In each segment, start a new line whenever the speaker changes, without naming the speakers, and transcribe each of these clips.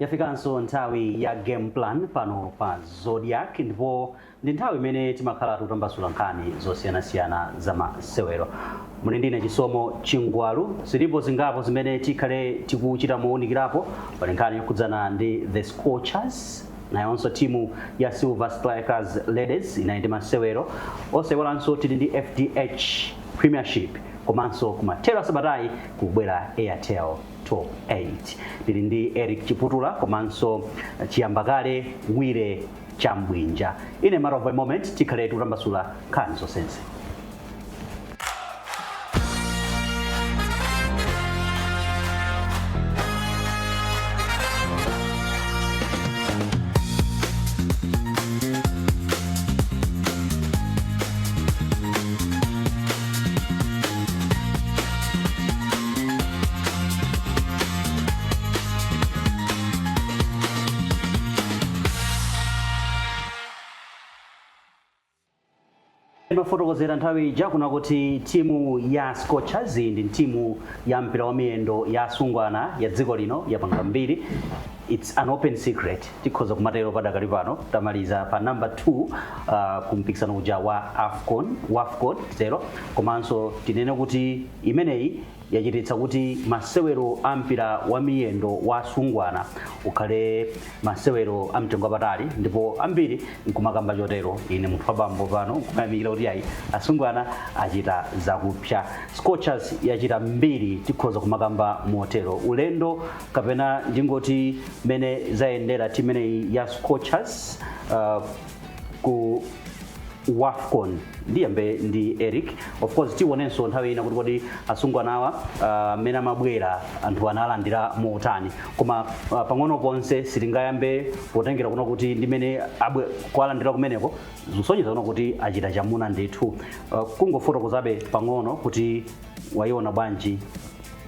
yafikanso nthawi ya game plan pano pa zodiak ndipo ndi nthawi imene timakhala tikutambasula nkhani zosiyanasiyana za masewero muli ndine chisomo chingwalu zilipo zingapo zimene tikhale tikuchita mowunikirapo pali nkhani yokhudzana ndi the scorchers nayonso timu ya silver strikers ladies inali ndi masewero osayiwalanso tili ndi fdh premiership komanso kumathero asabatayi kukubwera airtel top 8 tili ndi eric chiputula komanso chiyambakale wire chambwinja in a matter of a moment tikhale tikutambasula nkhani zonsezi imafotokozera nthawi ija kunena kuti timu ya scorchers ndi timu ya mpira wa miyendo ya asungwana ya dziko lino yapanga mbiri its an open secret tikhoza kumatero padakali pano tamaliza pa number 2 uh, ku mpikisano uja wa wafcon titero komanso tinene kuti imeneyi yachititsa kuti masewero a mpira wa miyendo wa asungwana ukhale masewero a mtengo wapatali ndipo ambiri nkumakamba chotero ine munthu wabambo pano nkumayamikira kuti ayi asungwana achita zakupsa scorchers yachita mbiri tikhoza kumakamba motero ulendo kapena ndingoti mene zayendera timu imeneyi ya scorchers uh, ku wafcon ndiyambe ndi eric of course tionenso nthawi ina kuti kodi asungwanawa mmene uh, amabwera anthu analandira motani koma uh, pang'ono ponse sitingayambe potengera kunena kuti ndimene akuwalandira kumeneko zikusonyeza kunena kuti achita chamuna ndithu uh, kungofotokozabe pang'ono kuti wayiona bwanji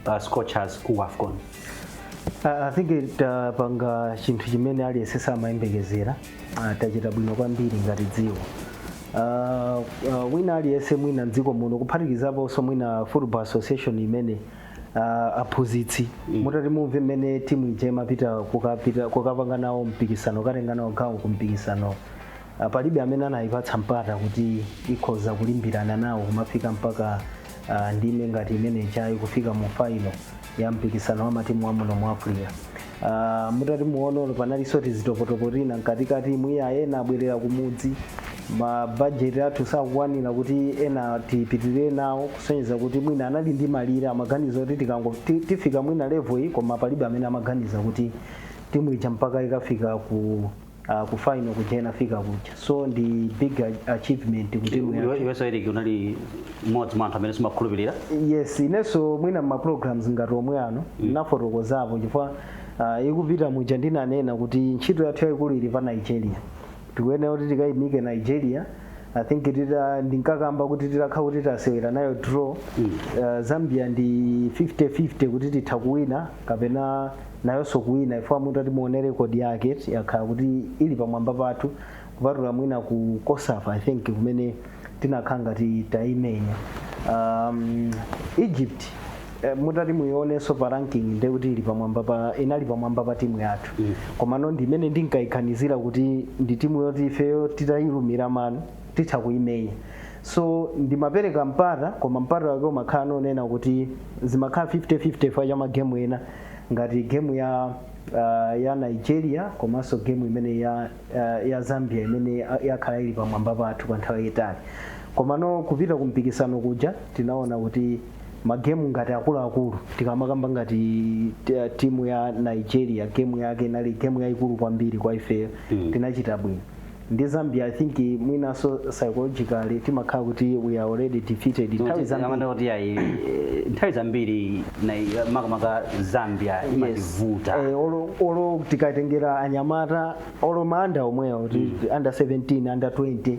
uh, scorchers ku wafcon
Uh, I think tapanga chinthu chimene aliyense samayembekezera uh, tachita bwino kwambiri ngati dziko uh, uh, wina aliyense mwina mdziko muno kuphatikizaponso mwina football association imene uh, aphunzitsi mm. mutati mumve mmene timu ija imapita kukapita- kukapanga nawo mpikisano katenga nawo gawo ku mpikisano ah, palibe amene anayipatsa mpata kuti ikhoza kulimbirana nawo kumafika mpaka ah, ndime ngati imene ija ya kufika mu faino ya mpikisano wa matimu wa muno mu africa Ah, mutati muone panalinso tizitopotopo tina mkatikati muja ena abwerera kumudzi mabajeti athu sakukwanira kuti ena tipitirire nawo kusonyeza kuti mwina anali ndi malire amaganizo kuti tikango ti- tifika mwina level iyi koma palibe amene amaganiza kuti timu ija mpaka ikafika ku uh, ku final kumene inafika kuja so ndi big a- achievement kuti timu yathu- iwenso eriki
unali mmodzi mwa anthu amene simumakhulupirira yes inenso
mwina ma programs ngati omwe ano ndinafotokozapo chifukwa uh, ikupita muja ndinanena kuti ntchito yathu yayikulu ili pa nigeria tikuyenera kuti tikayimike nigeria i think tita ndinkakamba kuti titakhala kuti tasewera nayo draw uh, zambia ndi 50-50 kuti titha kuwina kapena nayonso kuwina chifukwa mutati muone record yake yakhala kuti ili pamwamba pathu kupatula mwina ku cosafa i think kumene tinakhala ngati taimenya um, egypt eh, mutati muionenso pa ranking nde kuti ili pamwamba pa inali pamwamba pa timu yathu mm. komano ndi imene ndinkaiganizira kuti ndi timu yoti ifeyo titayilumira mano titha kuimenya so ndimapereka mpata koma mpata wake umakhala wonena kuti zimakhala 50-50 chifukwa cha magemu ena ngati gemu ya uh, ya nigeria komanso gemu imene ya, uh, ya zambia imene ya- yakhala ili pamwamba pathu kwa nthawi yayitali komano kupita ku mpikisano kuja tinaona kuti magemu ngati akuluakulu tikamakamba ngati t- timu ya nigeria gemu yake inali gemu yayikulu kwambiri kwa ifeyo tinachita bwino ndi zambia i think mwinanso psychologically timakhala kuti we are already defeated nthawi zambiri amanena kuti ayi
eh, nthawi zambiri na- makamaka zambia imativuta Eh, olo olo
tikatengera anyamata olo maanda omwewo ti- under 17 under 20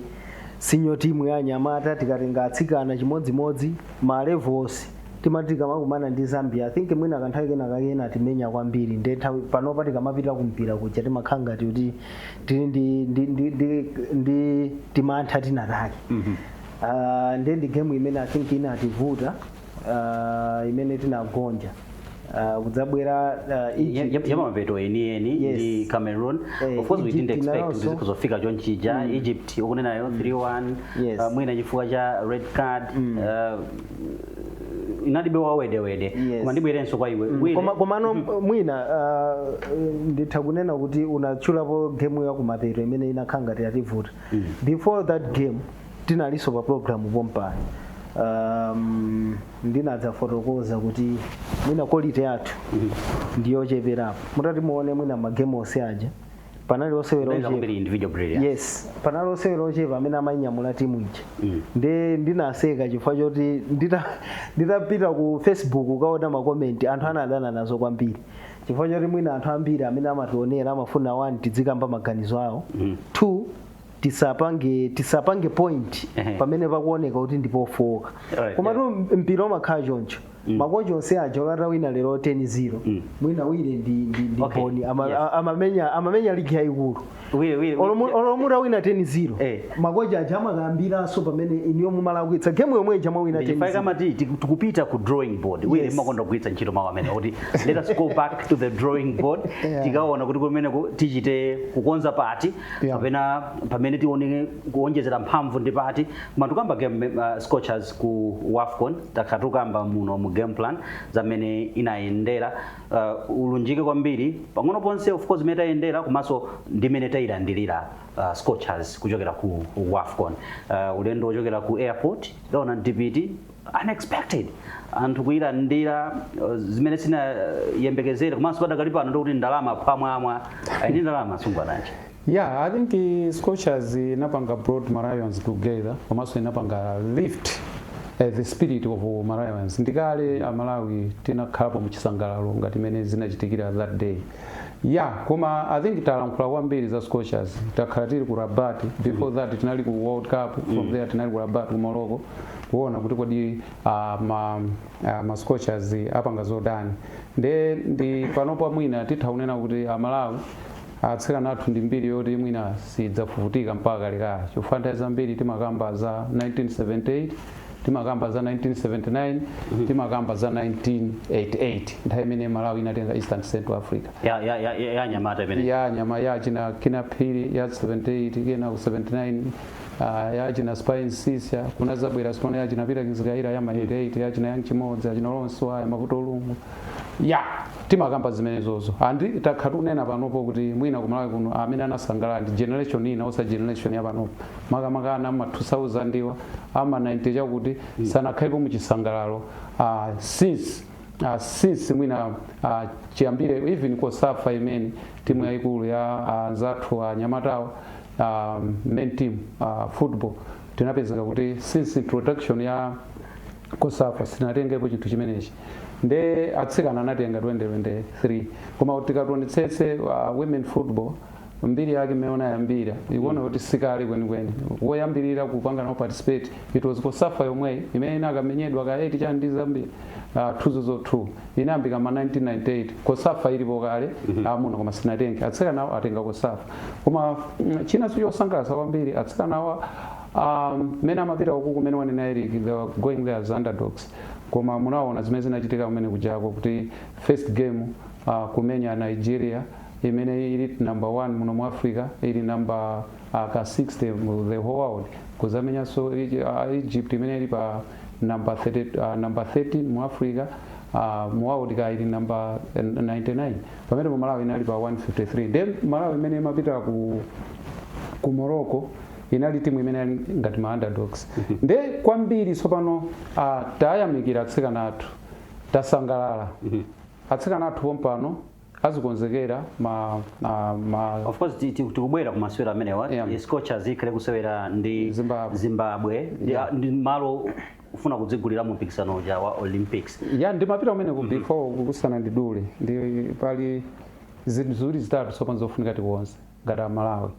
senior timu ya anyamata tikatenga atsikana chimodzimodzi ma levels timati tikamakumana ndi zambia i think mwina kanthawi kena akhala atimenya kwambiri nde nthawi panopa tikamapita kumpira kuja timakhala ngati kuti tili ndi ndi ndi ndi, ndi timantha tina take uh, ndi ndi game imene i think inativuta uh, imene tinagonja uh, kudzabwera uh,
yakumapeto enieni Yes. ndi cameroon Eh, of course we didn't expect inayonso. kuti zikhoza kufika chonchija egypt ukunenayo 3-1 Yes. uh, mwina chifukwa cha red card uh, inalibe wedewede Yes. koma ndibwerenso kwa iwe Wile. koma komano
mwina ah, nditha kunena kuti unatchulapo game ya kumapeto imene inakhala ngati yativuta before that game tinalinso pa program pompano um, ndinadzafotokoza kuti mwina quality yathu ndiyocheperapo mutati muone mwina magemu onse aja panali osewera ochepa kwambiri individual brilliance. yes panali osewera ochepa amene amainyamula timu ija Mm. nde ndinaseka chifukwa choti ndita- nditapita ku facebook ukaona makomenti anthu anadana nazo kwambiri chifukwa choti mwina anthu ambiri amene amationera amafuna one tidzikamba maganizo awo Mm. two tisapange tisapange point Ehe. pamene pakuoneka kuti ndipofowoka Alright, komatu mpira umakhala choncho makochi onse aja olo utawina lero 10-0 Mm. mwina wire ndi ndi- ndi Okay, boni Ama- yes. a- amamenya amamenya ligi yayikulu Wile, wile, Olomu- wile. olo mutawina 10-0 Eh. makochi aja amakambiranso pamene inuyo mumalakwitsa gemu yomwe ija mwawina 10-0 kama ti- ti-
tikupita ku drawing board wile Yes. makonda kugwiritsa ntchito mawu amene kuti let us go back to the drawing board Yeah. tikaone kuti kumeneko tichite kukonza pati Yeah. kapena pamene tione kuonjezera mphamvu ndi pati koma tikukamba game uh, scorchers ku wafcon takhala tikukamba muno mu game plan za mmene inayendera uh, ulunjike kwambiri pang'ono ponse of course mmene tayendera komanso ndi mmene tayilandilira uh, scorchers kuchokera ku wafcon uh, ulendo wochokera ku airport taona mtipiti unexpected anthu kuyilandira uh, zimene sinayembekezere komanso padakali pano ndikuti ndalama phwamwamwa ayi ndi ndalama asungwana aja Yeah, I think
uh, Scorchers uh, inapanga brought Malawians together komanso inapanga lift uh, the spirit of uh, Malawians. Ndikale Amalawi tinakhalapo mu chisangalalo ngati mmene zinachitikira that day. Yeah, koma I think talankhula kwambiri za Scorchers. Takhala tili ku Rabat before that tinali ku World Cup from there tinali ku Rabat ku Morocco. kuona kuti kodi uh, ma, uh, ma scorchers apanga zotani nde ndi panopa mwina titha kunena kuti amalawi atsikana athu ndi mbiri yoti mwina sidzafufutika mpaka kalekale chifukwa nthawi zambiri timakamba za 1978 timakamba za 1979 timakamba za 1988 nthawi imene malawi inatenga east and central africa ya ya ya ya
anyamata imene ya nyama ya achina
kinnah phiri ya 78 kenako 79 uh, ya achina Spy Msiska kunazabwera tsopano ya achina Peter Kizikayira ya ma 88 ya achina Young Chimodzi achina Lawrence Waya Mavuto Lungu yeah timakamba zimenezozo and takhala tikunena panopo kuti mwina kumalawi kuno amene anasangalala ndi generation ina osa generation ya panopo makamaka ana ma 2000 awa ama 90 chakuti sanakhalepo mu chisangalalo uh, since uh, since mwina uh, chiyambire even cosafa imene timu yayikulu ya uh, anzathu uh, anyamatawo uh, main team uh, football tinapezeka kuti since introduction ya cosafa sinatengepo chinthu chimenechi nde atsikana anatenga 2023 koma kuti tikaonetsetsa uh, women football mbiri yake mmene unayambira ikuona kuti sikale kwenikweni woyambirira kupanga nawo participate it was cosafa yomweyi imene inakamenyedwa ka 8 chani ndi zambia uh, 2002 inayambika ma 1998 cosafa ilipo kale amuna koma sinatenge atsikanawo atenga cosafa koma mm, china chosangalatsa kwambiri atsikanawa um, mmene amapita uku kumene wanena eric they were going there as underdogs koma munaona zimene zinachitika kumene kujako kuti first game uh, kumenya nigeria imene ili number 1 muno mu africa ili number uh, ka 60 mu the whole world kuzamenyanso Egy- uh, egypt imene ili pa number 13, uh, number 13 mu africa uh, mu world ka ili number 99 pamenepo malawi inali pa 153 then malawi imene imapita ku ku morocco inali timu imene ili ngati ma underdogs nde kwambiri tsopano uh, tayamikira atsikana athu tasangalala atsikana athu pompano azikonzekera ma,
ma, ma of course ti- ti- tikubwera ku masewero amenewa Yeah. yeah. scorchers ikhale kusewera ndi Zimbabwe. zimbabwe ndi, Yeah. ndi malo kufuna kudzigulira mu mpikisano uja wa olympics eya ndimapita kumeneku
before kukusana ndi dule nde pali zinthu ziwiri zitatu tsopano zofunika tikonze ngati a Malawi.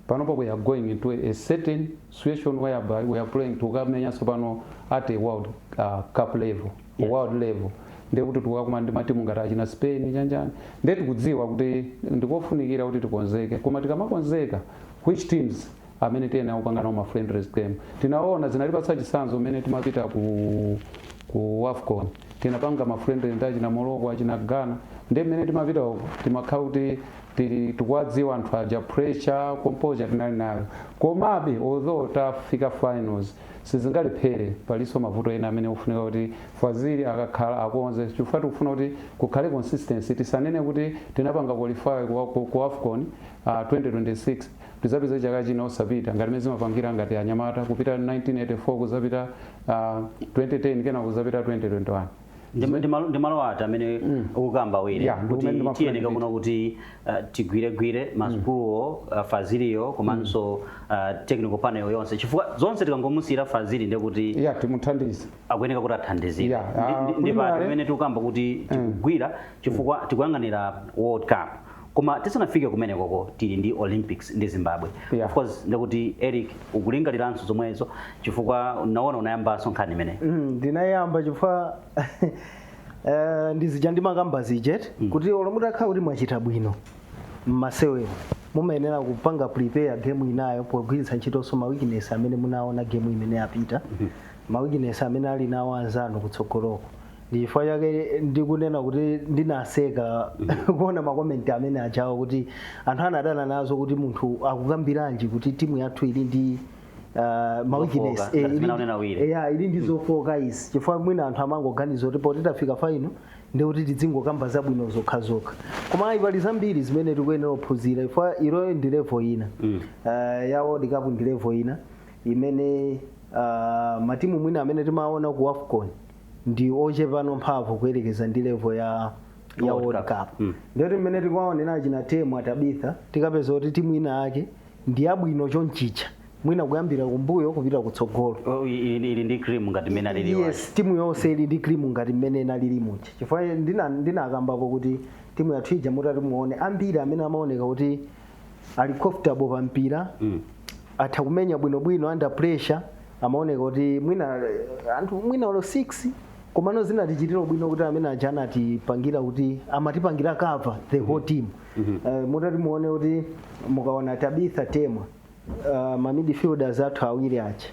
Panopa we are going into a certain situation whereby we are playing tukamenya tsopano at a world uh, cup level, yes. world level ndiye kuti tikakumana ndi matimu ngati achina Spain chanichani ndiye tikudziwa kuti ndikofunikira kuti tikonzeke koma tikamakonzeka which teams amene tiyenera kupanga nawo ma friendlies game tinaona zinatipatsa chitsanzo mmene timapita ku ku wafcon tinapanga ma friendlies ndi achina morocco achina ghana ndi mmene timapita uko timakhala kuti tili tikuwadziwa anthu aja pressure composure tinali nayo komabe although tafika finals sizingalephere palinso mavuto ena amene ofunika kuti fazili akakhala akonze chifukwa tikufuna kuti kukhale consistency tisanene kuti tinapanga qualify ku, ku, ku afcon uh, 2026 tidzapeze chaka china osapita ngati mmene zimapangira ngati anyamata kupita 1984 kuzapita uh, ah, 2010 kena kuzapita 2021 ndi
malo ati amene mm. ukukamba wire kuti tiyeneka kuno kuti uh, tigwiregwire mm. masikuluwo uh, faziliyo komanso mm. uh, technical panel yonse chifukwa zonse tikangomusiyira fazili ndi kuti yeah, timuthandize
akuyeneka kuti
athandizire yeah. uh, ndi pati pamene tikukamba kuti tikugwira chifukwa tikuyang'anira world cup koma tisanafike kumenekoko tili ndi olympics ndi zimbabwe yeah. of course ndikuti eric ukulingaliranso zomwezo chifukwa naona unayambanso nkhani imeneyi mm, ndinayamba chifukwa
uh, ndizija ndimakamba zija eti mm. kuti olo mutakhala kuti mwachita bwino mmasewero mumayenera kupanga prepare game inayo pogwiritsa ntchitonso ma weakness amene munaona game imene yapita mm -hmm. ma weakness amene ali nawo anzanu kutsogoloko ndi chifukwa chake ndikunena kuti ndinaseka kuona makomenti amene ajawo kuti anthu anadana nazo kuti munthu akukambiranji kuti timu yathu ili ndi uh, ma weakness. Zofoka, Eh, ngati ili- zimene akunena awiri. eya ili ndi zofoka izi chifukwa mwina anthu amangoganiza kuti poti tafika faino ndi kuti tidzingokamba zabwino zokha zokha koma ayi pali zambiri zimene tikuyenera kuphunzira chifukwa iloyo ndi levo ina Mm. uh, ya world cup ndi levo ina imene uh, matimu mwina amene timaona ku afcon ndi ochepano mphamvu kuyerekeza ndi level ya ya World World Cup. Cup Mm. ndiyoti mmene tikuwaonera achina temwa tabitha tikapeza kuti timu ina yake ndi yabwino chonchija mwina kuyambira kumbuyo kupita kutsogolo Oh, i- i- ili ndi
cream ngati mmene alili wachi. yes timu yonse
ili ndi krimu ngati mmene inalili muja chifukwa ndina- ndinakambapo kuti timu yathu ija mutati muone ambiri amene amaoneka kuti ali comfortable pa mpira mm. atha kumenya bwinobwino under pressure amaoneka kuti mwina eh, anthu mwina olo 6 komano zinatichitira bwino kuti amene aja anatipangira kuti amatipangira cover the whole team Eh, mutati muone kuti mukaona tabitha, temwa uh, ma midfielders athu awiri aja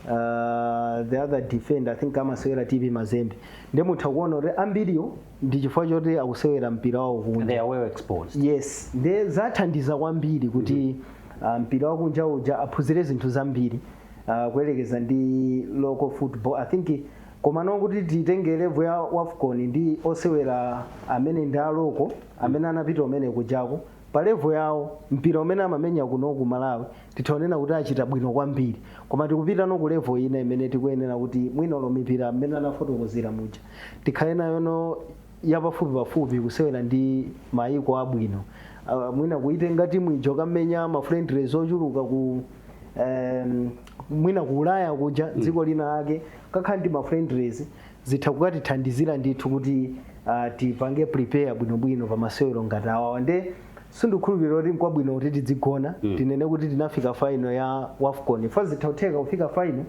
uh, the other defender i think amasewera tp mazembe nde mutha kuona kuti ambiriwo ndi chifukwa choti akusewera mpira wawo kunja they are well
exposed yes
nde zathandiza kwambiri kuti uh, mpira wakunja uja aphunzire zinthu zambiri uh, kuyerekeza ndi local football i think komano kuti titenge level ya wafcon ndi osewera amene ndi aloko amene anapita umene kujako pa level yawo mpira umene amamenya kuno ku Malawi titha kunena kuti achita bwino kwambiri koma tikupita no ku level ina imene tikuyenera kuti mwina olo mipira mmene anafotokozera muja tikhale nayo no yapafupi pafupi kusewera ndi mayiko abwino uh, mwina kuitenga timu ijo kamenya ma friendlies ochuluka ku um, mwina ku ulaya kuja dziko lina lake kakhala ndi ma friendlies zitha kukatithandizira ndithu kuti uh, tipange prepare bwinobwino pa masewero ngati awawa nde sindikhulupirira kuti nkwabwino kuti tidzigona mm. tinene kuti tinafika faino ya wafcon fa zitha kutheka kufika faino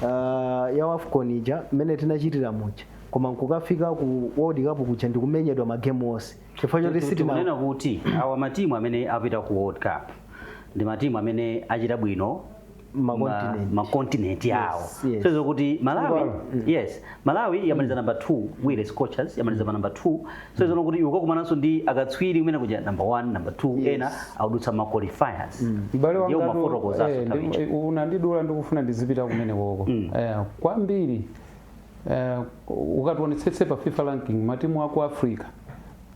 uh, ya wafcon ija mmene tinachitira muja koma nkukafika ku world cup kuja ndikumenyedwa magemu onse, chifukwa choti sitina tikunena kuti
awa matimu amene apita ku world cup ndi matimu amene achita bwino ma- Makontinenti. makontinenti yawo Yes, yes. so izo kuti malawi Ngwalo. Mm. yes malawi yamaliza namba 2 while scorchers yamaliza pa namba 2 so izo kuti iwe ukakumananso ndi akatswiri kumene kuja namba 1 namba 2 Yes. ena akudutsa ma qualifiers m'bale
wangatu ndiye umafotokozaso eh, nthawi ndi- icho unandidula ndikufuna ndizipita kumene koko eh, kwambiri eh, ukatiwonetsetse pa fifa ranking matimu aku africa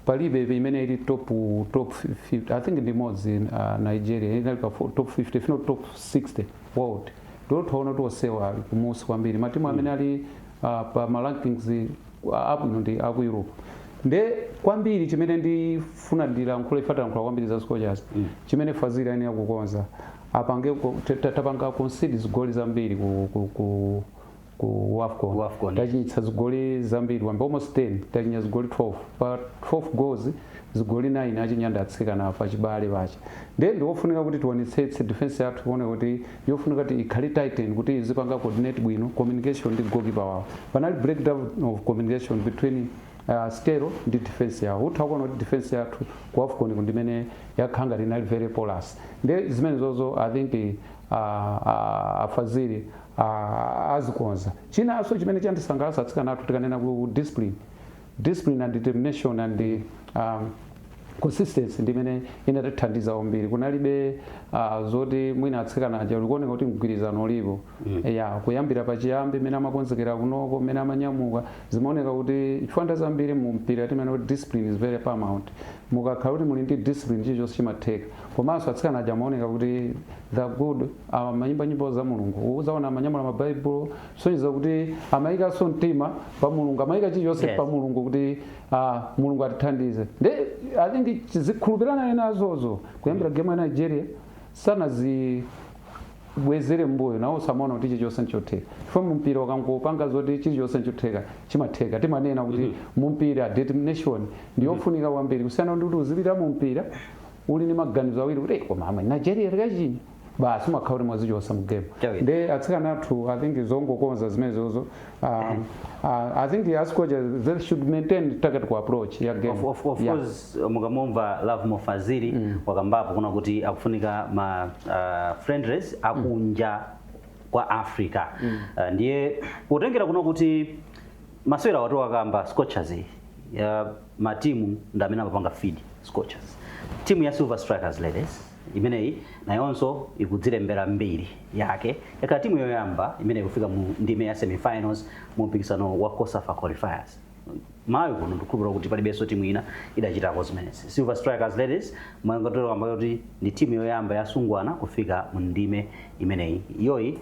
palibe imene ili top top 50 i think ndi imodzi uh, nigeria inali pa fo- top 50 if not top 60 world ndipo twaona kuti onsewa ali kumusi kwambiri matimu amene ali uh, pa ma rankings uh, abwino ndi aku europe nde kwambiri chimene ndifuna ndilankhule ife talankhula kwambiri za scorchers chimene Fazili ayenera kukonza apange ku- ta- ta- tapanga concede zigoli zambiri ku, ku, ku ku wafcon Wafcon. tachinyitsa zigoli zambiri kwambiri almost 10 tachinya zigoli 12 pa 12 goals zigoli 9 achinya ndi atsikana apachibale a Chawinga ndiye ndiofunika kuti tionetsetse defense yathu kuone kuti yofunika kuti ikhale tighten kuti izipanga coordinate bwino communication ndi goalkeeper wawo panali breakdown of communication between uh, stero ndi defense yawo utha kuona kuti defense yathu ku afcon ku ndi imene yakhala ngati inali very porous ndi zimenezozo i think uh, uh, a Fazili Aaa azikonza. Chinaso chimene chandisangalasa atsikana athu tikanena ku discipline, discipline and determination and aah consistency ndi imene inatithandiza kwambiri kunalibe aah zoti mwina atsikana aja zikuoneka kuti mgwirizano ulipo eyaa kuyambira pachiyambi mmene amakonzekera kunoko mmene amanyamuka zimaoneka kuti chifukwa nthawi zambiri mu mpira timanena kuti discipline is very paramount mukakhala kuti muli ndi discipline chilichonse chimatheka komaso atsikana aja amaoneka kuti the good amayimba nyimbo za mulungu uzaona amanyamula mabaibulo kusonyeza kuti amayikanso mtima pa mulungu amayika chilichonse Yes. pa mulungu kuti ah, mulungu atithandize nde i think chikhulupiriro nazozo kuyambira game ya nigeria sanazibwezere mbuyo nawonso amaona kuti chilichonse nchotheka chifukwa mumpira mukangopanga zoti chilichonse nchotheka chimatheka timanena kuti mumpira determination ndi yofunika kwambiri kusiyana ndi kuti uzipita mumpira uli ndi maganizo awiri kuti "Eh, koma amwene nigeria tikachinya basi umakhala kuti mwazichotsa mu game Chawina. nde atsikana athu i think zongokonza zimenezozo um, uh, i think as coaches they should maintain target ku approach ya game Of, of, of Yeah.
course mukamumva Lovemore Fazili wakambapo kunena kuti akufunika ma uh, friendlies akunja kwa Africa. Uh, ndiye kutengera kunena kuti Masewero awa tikukamba scorchers iyi ya ma team ndi amene amapanga feed scorchers. Team ya Silver Strikers ladies imeneyi nayonso ikudzilembera mbiri yake yakhala timu yoyamba imene ikufika mu ndime ya semifinals mu mpikisano wa COSAFA qualifiers. Malawi kuno ndikukhulupirira kuti palibenso timu ina idachitako zimenezi. Silver Strikers ladies mwangatero kamba yoti ndi timu yoyamba yasungwana kufika mu ndime imeneyi. Iyoyi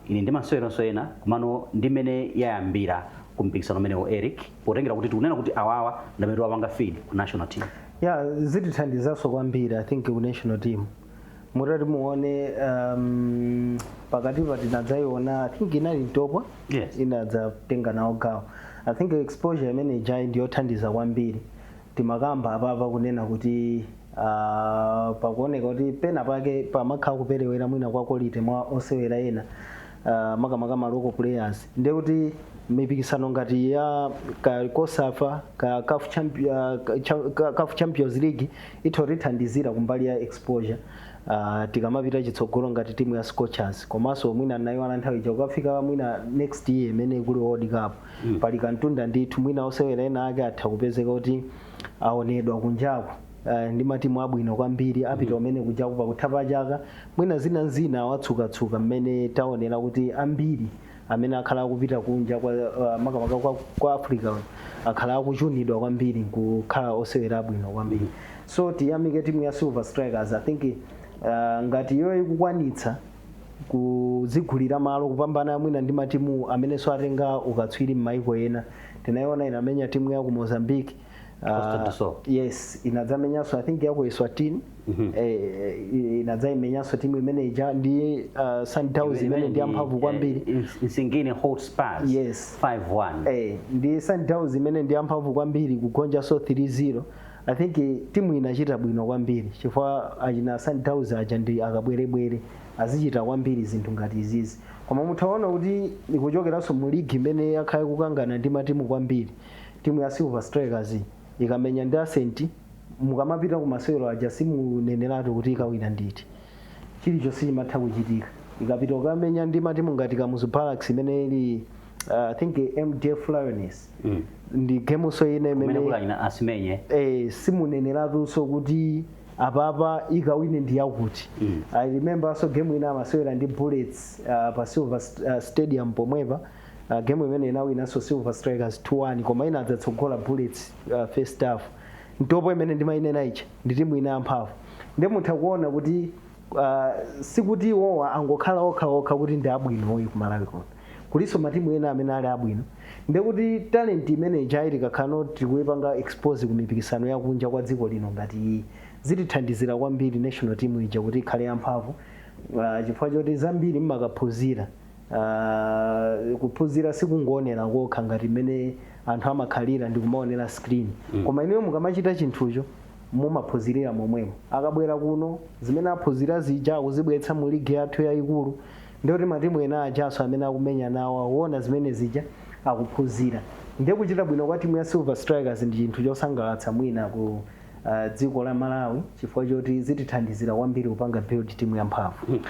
ili ndi maseweronso ena komano ndi mmene yayambira ku mpikisano umenewo Eric potengera kuti tikunena kuti awawa ndi amene timapanga feed ku national team. Yeah,
zitithandizanso kwambiri I think ku national team mutati muone um, pakatipa tinadzaiona I think inali Ntopwa Yes. inadzatenga nawo gawo I think exposure imene ijayi ndiyothandiza kwambiri timakamba apapa kunena kuti uh, pakuoneka kuti pena pake pamakhala kuperewera mwina kwa quality mwa osewera ena uh, makamaka ma local players ndiye kuti mipikisano ngati ya ka COSAFA ka CAF champion, uh, ka- cha- ka- CAF champions league itithandizira kumbali ya exposure uh, tikamapita chitsogolo ngati timu ya scorchers komanso mwina nayo ana nthawi ija kukafika mwina next year imene kuli world cup pali kantunda ndithu mwina osewera ena ake atha kupezeka kuti aonedwa kunjako eh, ndi matimu abwino kwambiri apita kumene kunjaku pakutha pa chaka mwina zina n'zina awatsukatsuka mmene taonera kuti ambiri amene akhala akupita kunja kwa uh, makamaka kwa, kwa africa akhala akuchunidwa kwambiri nkukhala osewera abwino kwambiri so tiyamike timu ya silver strikers i think uh, ngati iyo ikukwanitsa kuzigulira malo kupambana mwina ndi matimu amenenso atenga ukatswiri m'maiko ena tinayiona inamenya timu ya ku mozambique Ah, Costa do Sol. yes inadzamenyanso i think yaku eswatini eh, inadzaimenyanso timu imene ija ndi ah, sundowns imene ndi yamphamvu kwambiri Eh, Ins- Nsingini
Hotspurs Yes. 5-1.
Eh,
ndi sundowns
imene ndi yamphamvu kwambiri kugonja so 3-0 I think eh, timu inachita bwino kwambiri chifukwa achina Sundowns aja ndi akabwerebwere azichita kwambiri zinthu ngati izizi koma mutha ona kuti ikuchokeranso mu ligi imene yakhala ikukangana ndi matimu kwambiri timu ya Silver Strikers iyi ikamenya ndi Ascent mukamapita ku masewero aja simuneneratu kuti ikawina ndi iti chilichonse chimatha kuchitika ikapita kukamenya ndi matimu ngati Kamuzu Barracks imene ili uh, I think eh, MDF Lioness mm. ndi gemunso ina imene akaimenya
eh,
simuneneratunso kuti apapa ikawine ndi yakuti mm. i remember so game ina amasewera ndi bullets uh, pa silver st uh, stadium pomwepa uh, game imene inawinanso silver strikers 2-1 koma inadzatsogola bullets uh, first half Ntopwa imene ndimayinena ija ndi timu ina yamphamvu ndi mutha kuona kuti ah, sikuti iwowa angokhala okha okha kuti ndi abwino ayi ku Malawi kuno kulinso matimu ena amene ali abwino ndekuti talent imene ijayi tikakhala tikuipanga expose ku mipikisano yakunja kwa dziko lino ngati iyi zitithandizira kwambiri national team ija kuti ikhale yamphamvu ah, chifukwa choti zambiri mmakaphunzira Ah, kuphunzira sikungoonera kokha ngati mmene anthu amakhalira ndi kumaonera screen koma inuyo mukamachita chinthucho mumaphunzilira momwemo akabwera kuno zimene aphunzira zija akuzibweretsa mu ligi yathu yayikulu ndiye kuti matimu ena ajanso amene akumenya nawo akuona zimene zija akuphunzira ndiye kuchita bwino kwa timu ya silver strikers ndi chinthu chosangalatsa mwina ku uh, dziko la malawi chifukwa choti zitithandizira kwambiri kupanga build timu yamphamvu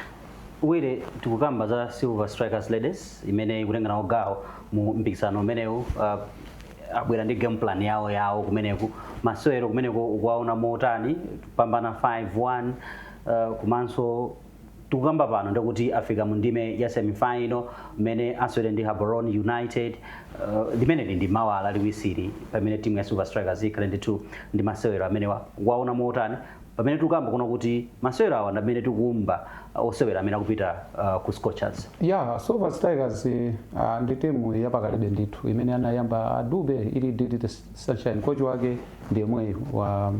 wire
tikukamba za silver strikers ladies imene ikutenga nawo gawo mu mpikisano umenewu uh, abwera ndi game plan yawo yawo kumeneku masewero kumeneko ukuwaona motani kupambana 5-1 uh, komanso tikukamba pano ndikuti afika mu ndime ya semifinal mmene asewere ndi Gaborone United uh, limeneli ndi mawa lachiwiri pamene timu ya Silver Strikers ikhale ndithu ndi masewero amenewa waona motani pamene tikukamba kuno kuti masewero awa ndamene tikuumba uh, osewera amene akupita uh, ku scorchers ya silver
strikers eh, ah, ndi timu yapakalibe ndithu imene anayamba a Dube ili DD Sunshine kochi wake ndi yemweyi wa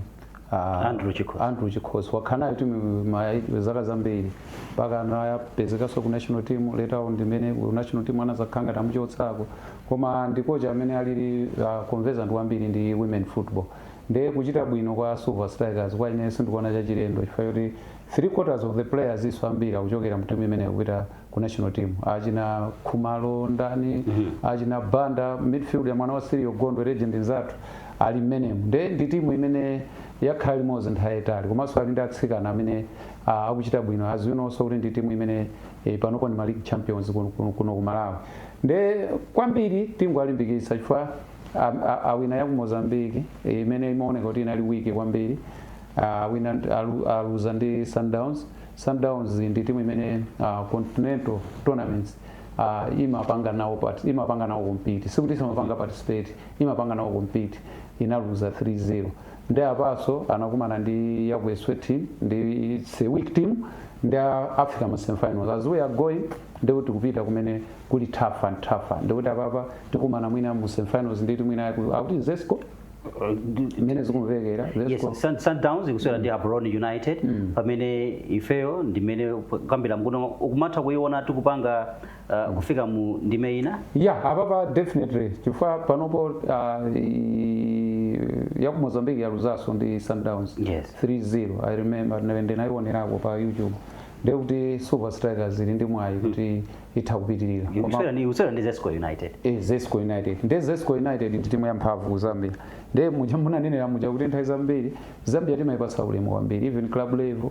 ah, Andrew Chikhosi. Andrew Chikhosi wakhala nayo timu ma- zaka zambiri mpaka anapezekanso ku national team later on ndimene ku national team anazakhala ngati amuchotsako koma ndi kochi amene ali ah, conversant kwambiri ndi women football nde kuchita bwino kwa Silver Strikers kwa ine sindikuona chachilendo chifukwa kuti 3 quarters of the players nso ambiri akuchokera mu timu imeneyo kupita ku national team achina Khumalo ndani achina Banda midfield ya mwana wa Sirio Gondwe legend nzathu ali mmenemo nde ndi timu imene yakhala limodzi nthawi yaitali komanso ali ndi atsikana amene ah, akuchita bwino as you know so kuti ndi timu imene eh, panopo ndi ma league champions kuno- kuno kuno ku Malawi nde kwambiri timalimbikitsa chifukwa am- a- awina ya ku mozambique eh, imene imaoneka kuti inali weak kwambiri Ah, awina alu- aluza ndi sundowns sundowns ndi timu imene ah, continental tournaments ah, imapanga nawo part- imapanga nawo compete sikuti imapanga participate imapanga nawo compete inaluza 3-0 nde apanso anakumana ndi ya ku eswatini nde it's a weak team nde afika ma semifinals as we are going ndikuti kupita kumene kuli tougher tougher ndikuti apapa tikumana mwina mu semifinals ndi timu ina ku- akuti zesco imene zikumvekera Yes, zesco Sun- Sundowns
ikusewera ndi Gaborone United pamene ifeyo ndimene tikukambira kuno ukumatha kuiona tikupanga uh, kufika mu ndime ina ya
apapa definitely chifukwa panopo uh, i- ya ku mozambique yaluzanso ndi sundowns Yes. 3-0 i remember ndinayionerako pa youtube ndekuti Silver Strikers ili ndi mwayi kuti itha kupitirira Koma- Ikusewera
ndi ikusewera ndi Zesco United. Eh, zesco
united nde zesco united ndi timu yamphamvu ku zambia nde muja munanenera muja kuti nthawi zambiri zambia timayipatsa ulemu kwambiri even club level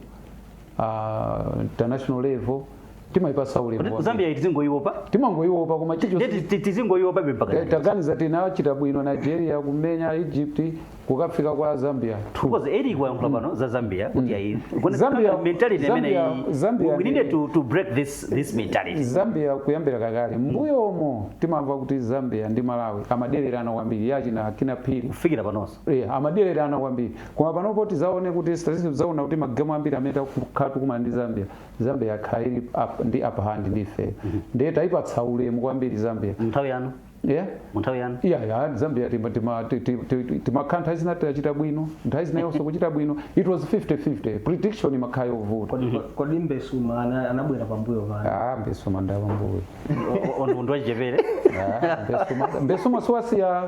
uh, international level timayipatsa ulemu Kuti kwambiri. Zambia
tizingoiopa. timangoyiwopa
koma chicho Ndiye tizingoiopa
be mpaka. Eh, tangoganizani tinachita
bwino nigeria kumenya egypt kukafika kwa Zambia because eric
wayankhula pano za zambia kuti ayi Zambia- mentality imene Zambia- Zambia we needed ndi- to, to break this, this mentality zambia kuyambira
kakale m'mbuyomo timamva kuti zambia ndi malawi amadererana kwambiri yachina Kinnah Phiri kufikira panonso
Yeah, amadererana
kwambiri koma panopo tizaone kuti statistics zaona kuti magemu ambiri amene takhala tikumana ndi zambia zambia yakhala ili up- ndi upper hand ndi ife ndiye taipatsa ulemu kwambiri zambia nthawi yanu
yeah mu nthawi yanu iya ya zambia tima-
tima- ti- ti- ti- ti- timakhala nthawi zina tachita bwino nthawi zina iwonso kuchita bwino it was 50-50 prediction imakhala yovuta kodi kodi
mbesuma ana- anabwera pambuyo panu ah mbesuma ndi
wapambuyo O- o- o- ndi munthu wachichepere
Ah,
Mbesuma- mbesuma siwasiya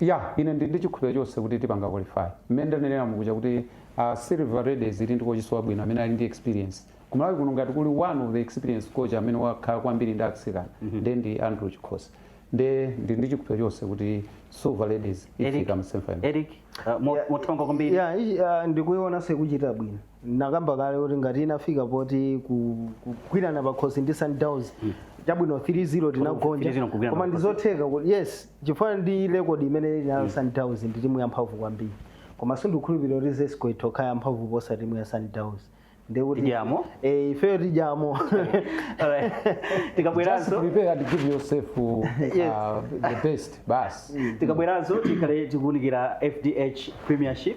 Yah ine ndili
ndi chikhulupiliro chonse kuti tipanga qualify. Mmene ndanenera mukuja kuti Silver Ladies ili ndi kochinso wabwino amene ali ndi experience. Ku Malawi kuno ngati kuli one of the experienced coach amene wakhala kwambiri ndi atsikana nde ndi Andrew Chikhosi. Nde ndili ndi chikhulupiliro chonse kuti Silver Ladies Eric, ifika mu semi final. Eric, uh, mo-
mothongo kwambiri. Yeah, ichi, uh,
ndikuionanso ikuchita bwino nakamba kale kuti ngati inafika poti ku- kugwirana pakhosi ndi sundowns chabwino 3-0 tinagonja 3-0 kugwirana koma pakhosi. ndizotheka kuti yes chifukwa ndi rekodi imene ili nayo sundowns ndi timu yamphamvu kwambiri koma sindikhulupirira kuti zesco itokhala yamphamvu kuposa timu ya sundowns ndekuti
Tidyamo?
eh, ifeyo tidyamo Alright.
Just tikabweranso prepare and give yourself
uh, Yes. the best. Basi. tikabweranso tikhale
tikuunikira fdh premiership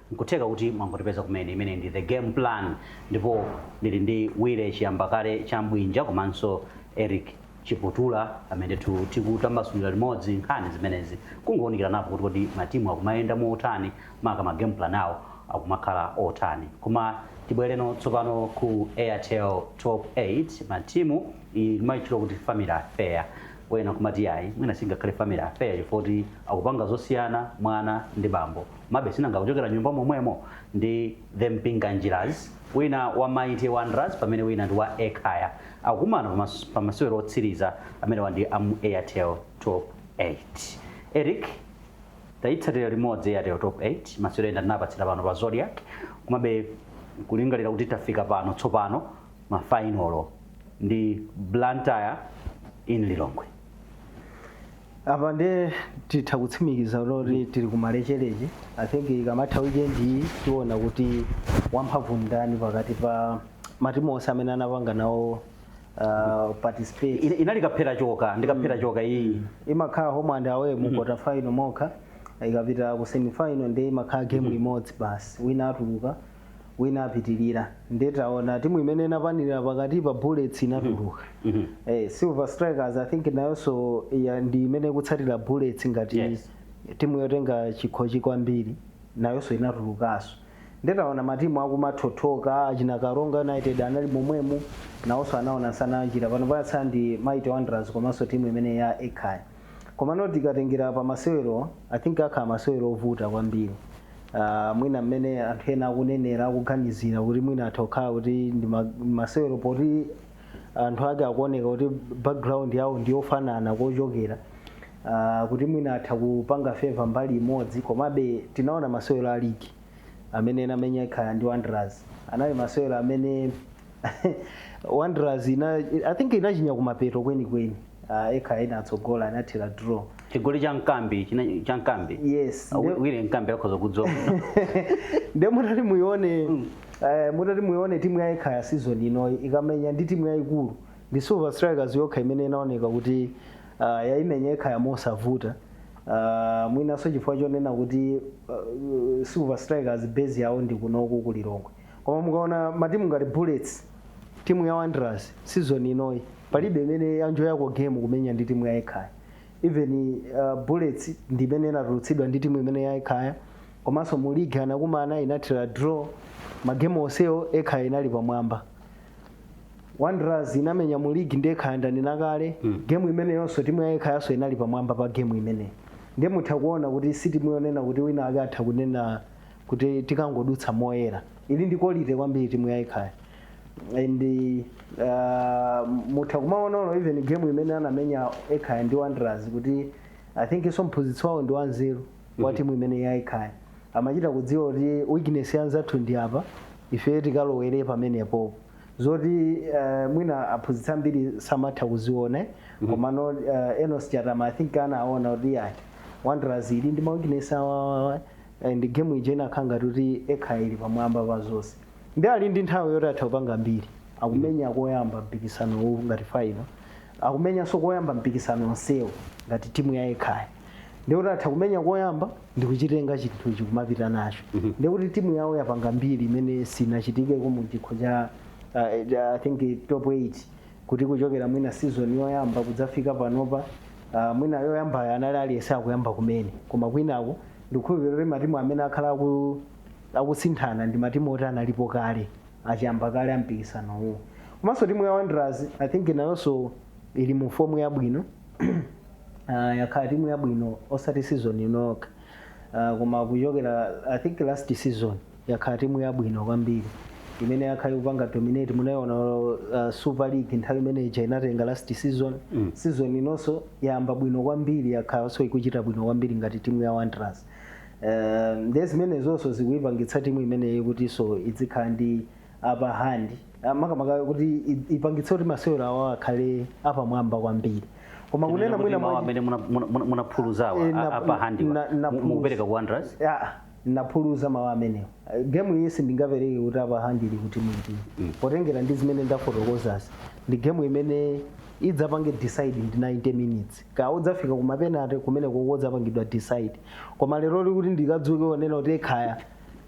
Nkutheka kuti mwangotipeza kumene, imeneyi ndi The Game Plan ndipo ndili ndi Willy Chiyambakale Chambwinja komanso Eric Chiputula amene ndithu tikutambasulira limodzi nkhani zimenezi, kungowunikiranapo kuti kodi matimu akumayenda motani maka ma game plan awo akumakhala otani. Koma tibwereno tsopano ku Airtel Top 8 Matimu, iyi tikumaitchula kuti Family Affair, ena nkumati iyayi mwina singakhale Family Affair chifukwa choti akupanga zosiyana mwana ndi bambo. Komabe sinanga kuchokera nyumba momwemo ndi the Mpinganjiras, wina wa Mighty Wanderers pamene wina ndi wa Ekhaya akukumana pa masewero otsiriza amenewa ndi amu Airtel Top 8. Eric tayitsatira limodzi Airtel Top 8 masewero ena tinapatsira pano pa Zodiak komabe kulingalira kuti tafika pano tsopano mafainolo ndi Blantyre in Lilongwe.
apa ndiye titha kutsimikiza kuti tili ku malecheleche i think ikamatha weekend iyi tiona kuti wamphamvu ndani pakati pa matimu onse amene anapanga nawo uh, participate Ina- inali kaphera
choka ndi kaphera choka iyi imakhala home and
away mu quarter final mokha ikapita ku semi final ndiye imakhala game imodzi basi wina atuluka wina apitilira nde taona timu imene inapanilira pakatipa bullets inatuluka mm -hmm. eh, silver strikers i think nayonso ya ndi imene ikutsatira bullets ngati yes. timu yotenga chikhochi kwambiri nayonso inatulukanso nde taona matimu akumathothoka achina karonga united anali momwemo nawonso anaona nsana wa njira panopa yatsala ndi mighty wanderers komanso timu imene ya ekhaya Komano tikatengera pa masewerowa I think akhala masewero ovuta kwambiri uh, mwina mmene anthu ena akunenera akuganizira kuti mwina atha kukhala kuti ndi ma- masewero poti anthu ake akuoneka kuti background yawo ndi yofanana kochokera uh, kuti mwina atha kupanga favor mbali imodzi komabe tinaona masewero a ligi amene anamenya Ekhaya ndi wanderers anali masewero amene wanderers ina i think inachinya kumapeto kwenikweni uh, ekhaya inatsogola inathera draw chigoli cha
mkambi china- cha mkambi yes
Wi- wile mkambi
akhoza kudzoka
nde mutati muione eh, mutati muione timu ya ekhaya season inoyi ikamenya ndi timu yayikulu ndi silver strikers yokha imene inaoneka kuti uh, yaimenya ekhaya mosavuta uh, mwinanso chifukwa chonena kuti uh, silver strikers base yawo ndi kunoku ku lilongwe koma mukaona matimu ngati bullets timu ya wanderers season inoyi palibe imene yaenjoyako game kumenya ndi timu ya ekhaya even uh, bullets ndi imene inatulutsidwa ndi timu imene ya ekhaya komanso mu ligi anakumana inathira draw magemu onsewo ekhaya inali pamwamba wanderers inamenya mu ligi ndi ekhaya ndanena kale mm. gemu imeneyonso timu ya ekhayanso inali pamwamba pa gemu imeneyi ndiye mutha kuona kuti si timu yonena kuti wina ake atha kunena kuti tikangodutsa moyera ili ndi quality kwambiri timu ya ekhaya and uh, mutha kumaona even game imene anamenya ekhaya ndi wanderers kuti i think so mphunzitsi wawo ndi wanzeru wa timu imene ya ekhaya amachita kudziwa kuti weakness yanzathu ndi apa ife tikalowere pamenepo zoti uh, mwina aphunzitsi ambiri samatha kuziona komano uh, enos chatama i think anaona kuti ayi wanderers ili ndi ma weakness awawawa Eh, and game ija inakhala ngati kuti ekhaya ili pamwamba pa zonse ndi ali ndi nthawi yoti atha kupanga mbiri akumenya koyamba mpikisano uwu ngati faino akumenyanso koyamba mpikisano onsewu ngati timu ya ekhaya ndikuti atha kumenya koyamba ndikuchitenga chinthuchi kumapita nacho ndikuti timu yawo yapanga mbiri imene sinachitikeko mu chikho cha uh, I think top 8 kuti kuchokera mwina season yoyamba kudzafika panopa uh, mwina yoyambayo anali aliyese akuyamba kumene koma kwinaku ndikukhulupirira kuti matimu amene akhala aku, akusinthana ndi matimu oti analipo kale achiyamba kale ampikisano uwu komanso timu ya wanderers i think nayonso ili mu fomu yabwino uh, yakhala timu yabwino osati season inokha uh, koma kuchokera i think last season yakhala timu yabwino kwambiri imene yakhala ikupanga dominate munayiona uh, super league nthawi imene ija inatenga last season mm. season inonso yayamba bwino kwambiri yakhalanso ikuchita bwino kwambiri ngati timu ya wanderers uh, nde zimenezonso zikuyipangitsa timu imeneyi kutinso idzikhala ndi upper hand Ah, makamaka kuti i- ipangitse kuti masewero awo akhale apamwamba kwambiri koma kunena mwina mwa- amene
munaphuluzawa Eh, na- upper hand na- na- mukupereka
ku
wanderers Ah,
Naphuluza mawu amenewo. Game iyi sindingapereke kuti upper hand ili kuti mwina. Potengera ndi zimene ndafotokozazi. Ndi game imene idzapange decide ndi 90 minutes. Kaya idzafika ku mapenate kumene koko idzapangidwa decide. Koma lero lino kuti ndikadzuke onena kuti ekhaya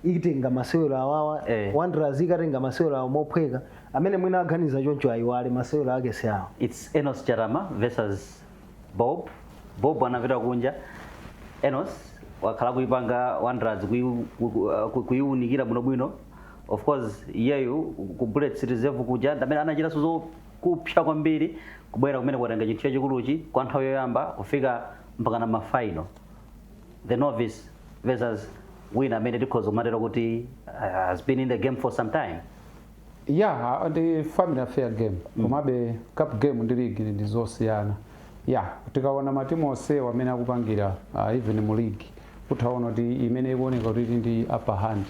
itenga masewero awawa eh. Wanderers ikatenga masewero awo mophweka amene mwina aganiza choncho ayiwale masewero ake si awo. It's Enos Chatama
versus bob bob anapita kunja enos wakhala kuipanga wanderers kuiu- ku- ku- uh, ku- kuiunikira bwinobwino of course iyeyo ku bullets reserve kuja ndamene anachitanso zakupsa kwambiri kubwera kumene kwatenga chinthu chachikuluchi kwa nthawi yoyamba kufika mpaka na mafaino the novice versus wina amene tikhoza kumatero kuti uh, has been in the game for some time ya
yeah, ndi family affair game mm. komabe cup game ndi league ndi zosiyana ya yeah, tikaona matimu onsewa amene akupangira uh, even mu league utha kuona kuti imene ikuoneka kuti ndi upper hand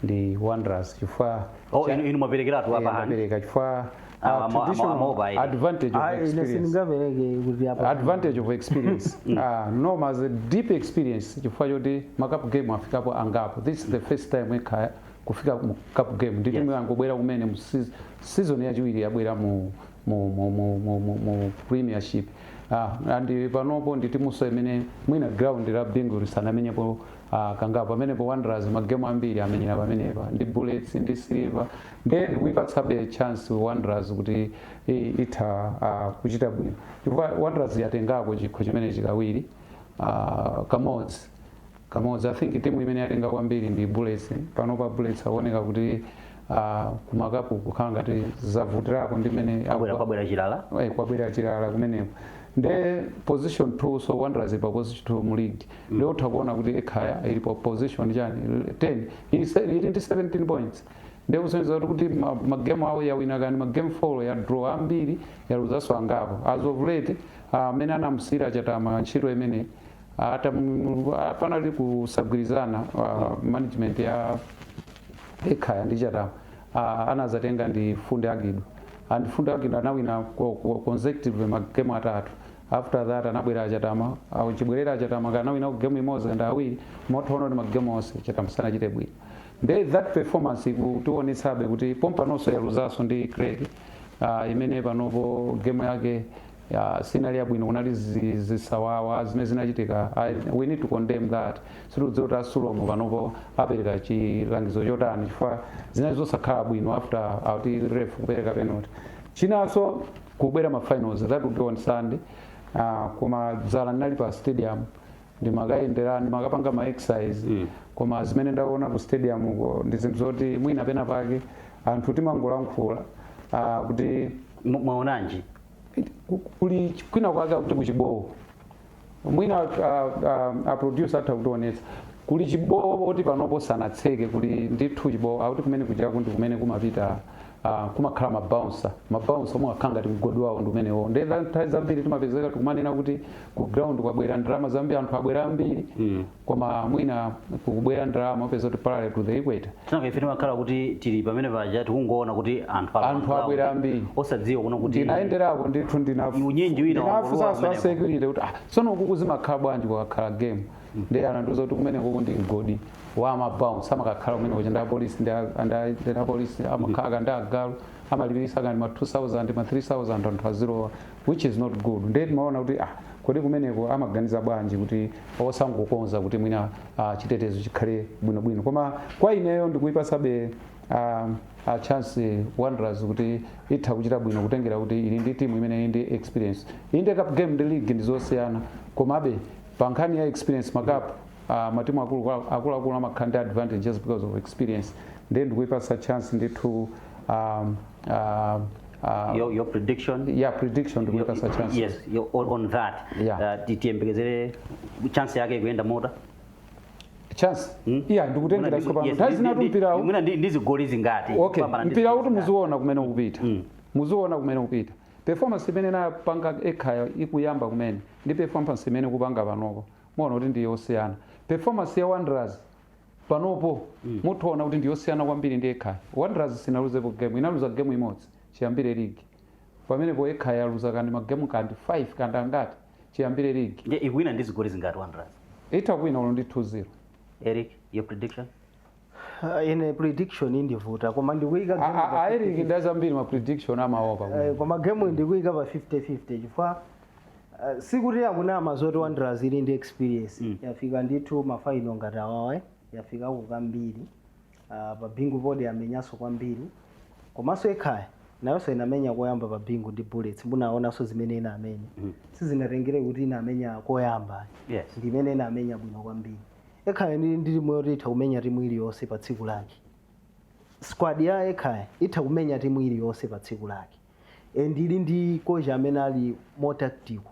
ndi wanderers chifukwa oh, inu, inu
mwaperekeratu upper hand mapereka chifukwa Ah,
uh, ama- ama- traditional amaopa ili. advantage of Ah, ine experience sindingapereke kuti apa advantage of experience uh, Noma has a deep experience chifukwa choti macup game afikapo angapo this is the first time ekha kufika mu cup game ndi timu Yes. yangobwera kumene mu seas- season yachiwiri yabwera mu mu mu mu mu, mu, mu premiership ah, and panopo ndi timunso imene mwina ground la bingu lisanamenyepo ah, kangapo pamenepo wanderers magemu ambiri amenyera pamenepa ndi bullets ndi silver then kuipatsabe chance wanderers kuti i- itha ah, kuchita bwino chifukwa wanderers yatengako chikho chimenechi kawiri ah, kamodzi kamodzi i think timu imene yatenga kwambiri ndi bullets panopa bullets akuoneka kuti ah, kumakapu kukhala ngati zavutirako ndi mene abwera kwabwera chilala Eh, kwabwera chilala kumeneko nde position 2 so wanderers pa position 2 mu league nde utha kuona kuti ekhaya ili pa position chani 10 ili se- ili ndi 17 points nde kusonyeza kuti kuti ma- magemu awo yawina angati magemu 4 ya draw ambiri yaluzanso angapo as of late ah, amene anamusiyira chatama ntchito imeneyi ata mulungu ah, panali kusagwirizana ah, management ya ekhaya ndi chatama ah, anazatenga ndi funde agidu and funde agidu anawina ko- ko- consecutive magemu atatu after that anabwera achatama ah, chibwerera achatama anangowina game imodzi and awiri motono ndi magemu onse chatama sanachite bwino nde that performance ikutiwonetsabe kuti pompanonso yaluzanso ndi craig ah, imene panopo game yake ya sinali yabwino kunali zi- zisawawa zimene zinachitika I- we need to condemn that sitikudziwa kuti asulomo panopo apereka chilangizo chotani chifukwa zinali zosakhala bwino after kuti ref kupereka penalty chinanso kubwera ma finals that would be on sunday Ah, koma dzala ndinali pa stadium ndimakayendera ndimakapanga ma exercise mm. koma zimene ndaona ku stadium uko ndi zinthu zoti mwina pena pake anthu timangolankhula ah, kuti Mu- mwaonanji kuli kwina kwake akuti kuchibowo mwina a producer atha kutionetsa kuli chibowo choti panopo sanatseke kuli ndithu chibowo akuti kumene kujaku ndi kumene kumapita ah, kumakhala mabouncer mabouncer omwe akhala ngati mgodi wawo ndi umenewo nde za- nthawi zambiri timapezeka tikumanena kuti ku ground kwabwera ndalama zambiri anthu abwera ambiri koma mwina kukabwera ndalama upeza kuti parallel to the equator Tsono ife timakhala
kuti tili pamene paja tikungoona kuti anthu alowa Anthu mgawo. abwera ambiri.
osadziwa kuno kuti
ndinayenderako ndithu ndinaf-
Unyinji wina
ndinafunsa wangolowa anthu kumeneko. asekurite
kuti ah, tsono ukuku zimakhala bwanji kukakhala game ndi anandiuza kuti kumene kuku ndi mgodi wa mabouncer amakakhala kumene kuja ndi apolisi ndi a- ndi a- ndi apolisi amakhala ndi agalu amalipiritsa kaya ndi ma 2000 ma 3000 anthu azilowa which is not good nde timaona kuti ah kodi kumeneko amaganiza bwanji kuti osangokonza kuti mwina ah, chitetezo chikhale bwinobwino koma kwa ineyo ndikuipasabe um, a chance wanderers kuti itha kuchita bwino kutengera kuti ili ndi timu imene ili ndi experience inde cup game ndi league ndi zosiyana komabe pa nkhani ya experience makapu uh, matimu akulu- akuluakulu amakhala ndi advantage just because of experience nde ndikuipasa chance ndithu um, uh,
Uh, your, your prediction yeah prediction
your, your, chance yes your, on, on
that yeah uh, tiyembekezere chance yake ikuyenda
motani chance hmm? yeah ndikutengera yes, pano nthawi zinatu mpira mwina ndi zigoli
zingati okay mpira kuti
muziona kumene ukupita mm. muziona kumene ukupita performance imene inapanga ekhaya ikuyamba kumene ndi performance imene ikupanga panopo muona kuti ndi yosiyana performance ya wanderers panopo mutha kuona kuti ndiyosiyana kwambiri ndi ekhaya wanderers sinaluzepo game inaluza game imodzi chiyambire ligi pamenepo ekhaya yaluza kaya ndi magemu kaya ndi 5 kaya ndi angati chiyambire ligi
nde ikuwina
ndi
zigoli
zingati
wanderers itha
kuwina ulo ndi 2-0 eric
your prediction
Ah, ine prediction ikundivuta koma ndikuyika A- game a- pa a eric ndi azambiri
ma prediction amaopa Eh, koma game
ndikuyika pa 50-50 chifukwa Uh, sikuti akunama zoti wanderers ili ndi experience mm. yafika ndithu mafaino ngati awawa eh? yafikako kambiri uh, pa bingu poti yamenyanso kwambiri komanso ekhaya nayonso inamenya koyamba pa bingu ndi bullets munaonanso zimene inamenya mm. sizinatengere kuti inamenya koyamba Yes. ndi
imene inamenya
bwino kwambiri ekhaya ndi ndi timu yoti itha kumenya timu iliyonse pa tsiku lake squad ya ekhaya itha kumenya timu iliyonse pa tsiku lake and ili ndi kocha amene ali more tactical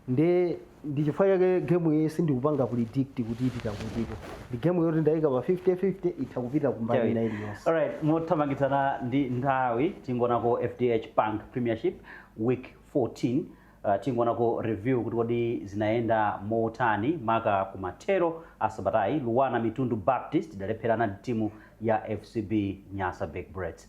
nde ndi chifukwa chake game iyi sindikupanga predict kuti ipita kutiko ndi game yoti ndayika pa 50-50 itha kupita kumbali ina iliyonse Alright, mothamangitsana
ndi nthawi tingoonako FDH Bank Premiership week 14 uh, tingoonako review kuti kodi zinayenda motani maka kumathero a sabatayi Luanar Mitundu Baptist idalepherana ndi timu ya FCB Nyasa Big Bullets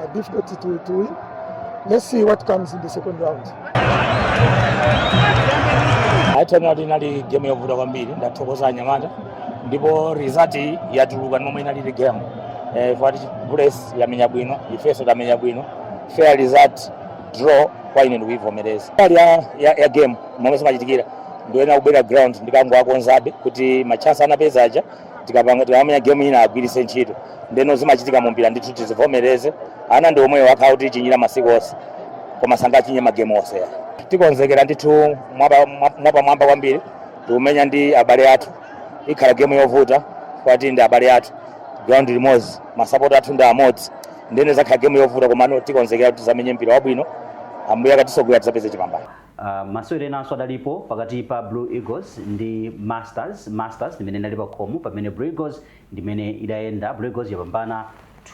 Uh, difficult to, to win. Let's see what comes in the second
round. Ayi tingati inali game yovuta kwambiri ndathokoza anyamata ndipo result yatuluka ndi momwe inalili game eh, fati Bullets yamenya bwino ifeso tamenya bwino fair result draw kwa ine ndikuivomereza part ya, ya, ya game momwe zimachitikira ndiyenera kubwerera ground ndikangowakonzabe kuti machance anapeza aja tikamamenya gemu ina agwiritse ntchito ndeno zimachitika mu mpira ndithu tizivomereze ana ndi omwewo akhala akutichinyira masiku onse koma sangachinye magemu onse tikonzekera ndithu mwapamwamba kwambiri tikumenya ndi abale athu ikhala gemu yovuta kwati ndi abale athu ground limodzi masapoti athu ndi amodzi nde izakhala gemu yovuta komano tikonzekera kuti tizamenye mpira wabwino ambuye akatisogolera tizapeze chipambano Masewero
enanso adalipo pakati pa Blue Eagles ndi Masters, Masters ndimene inali pakhomo pamene Blue Eagles ndimene idayenda, Blue Eagles yapambana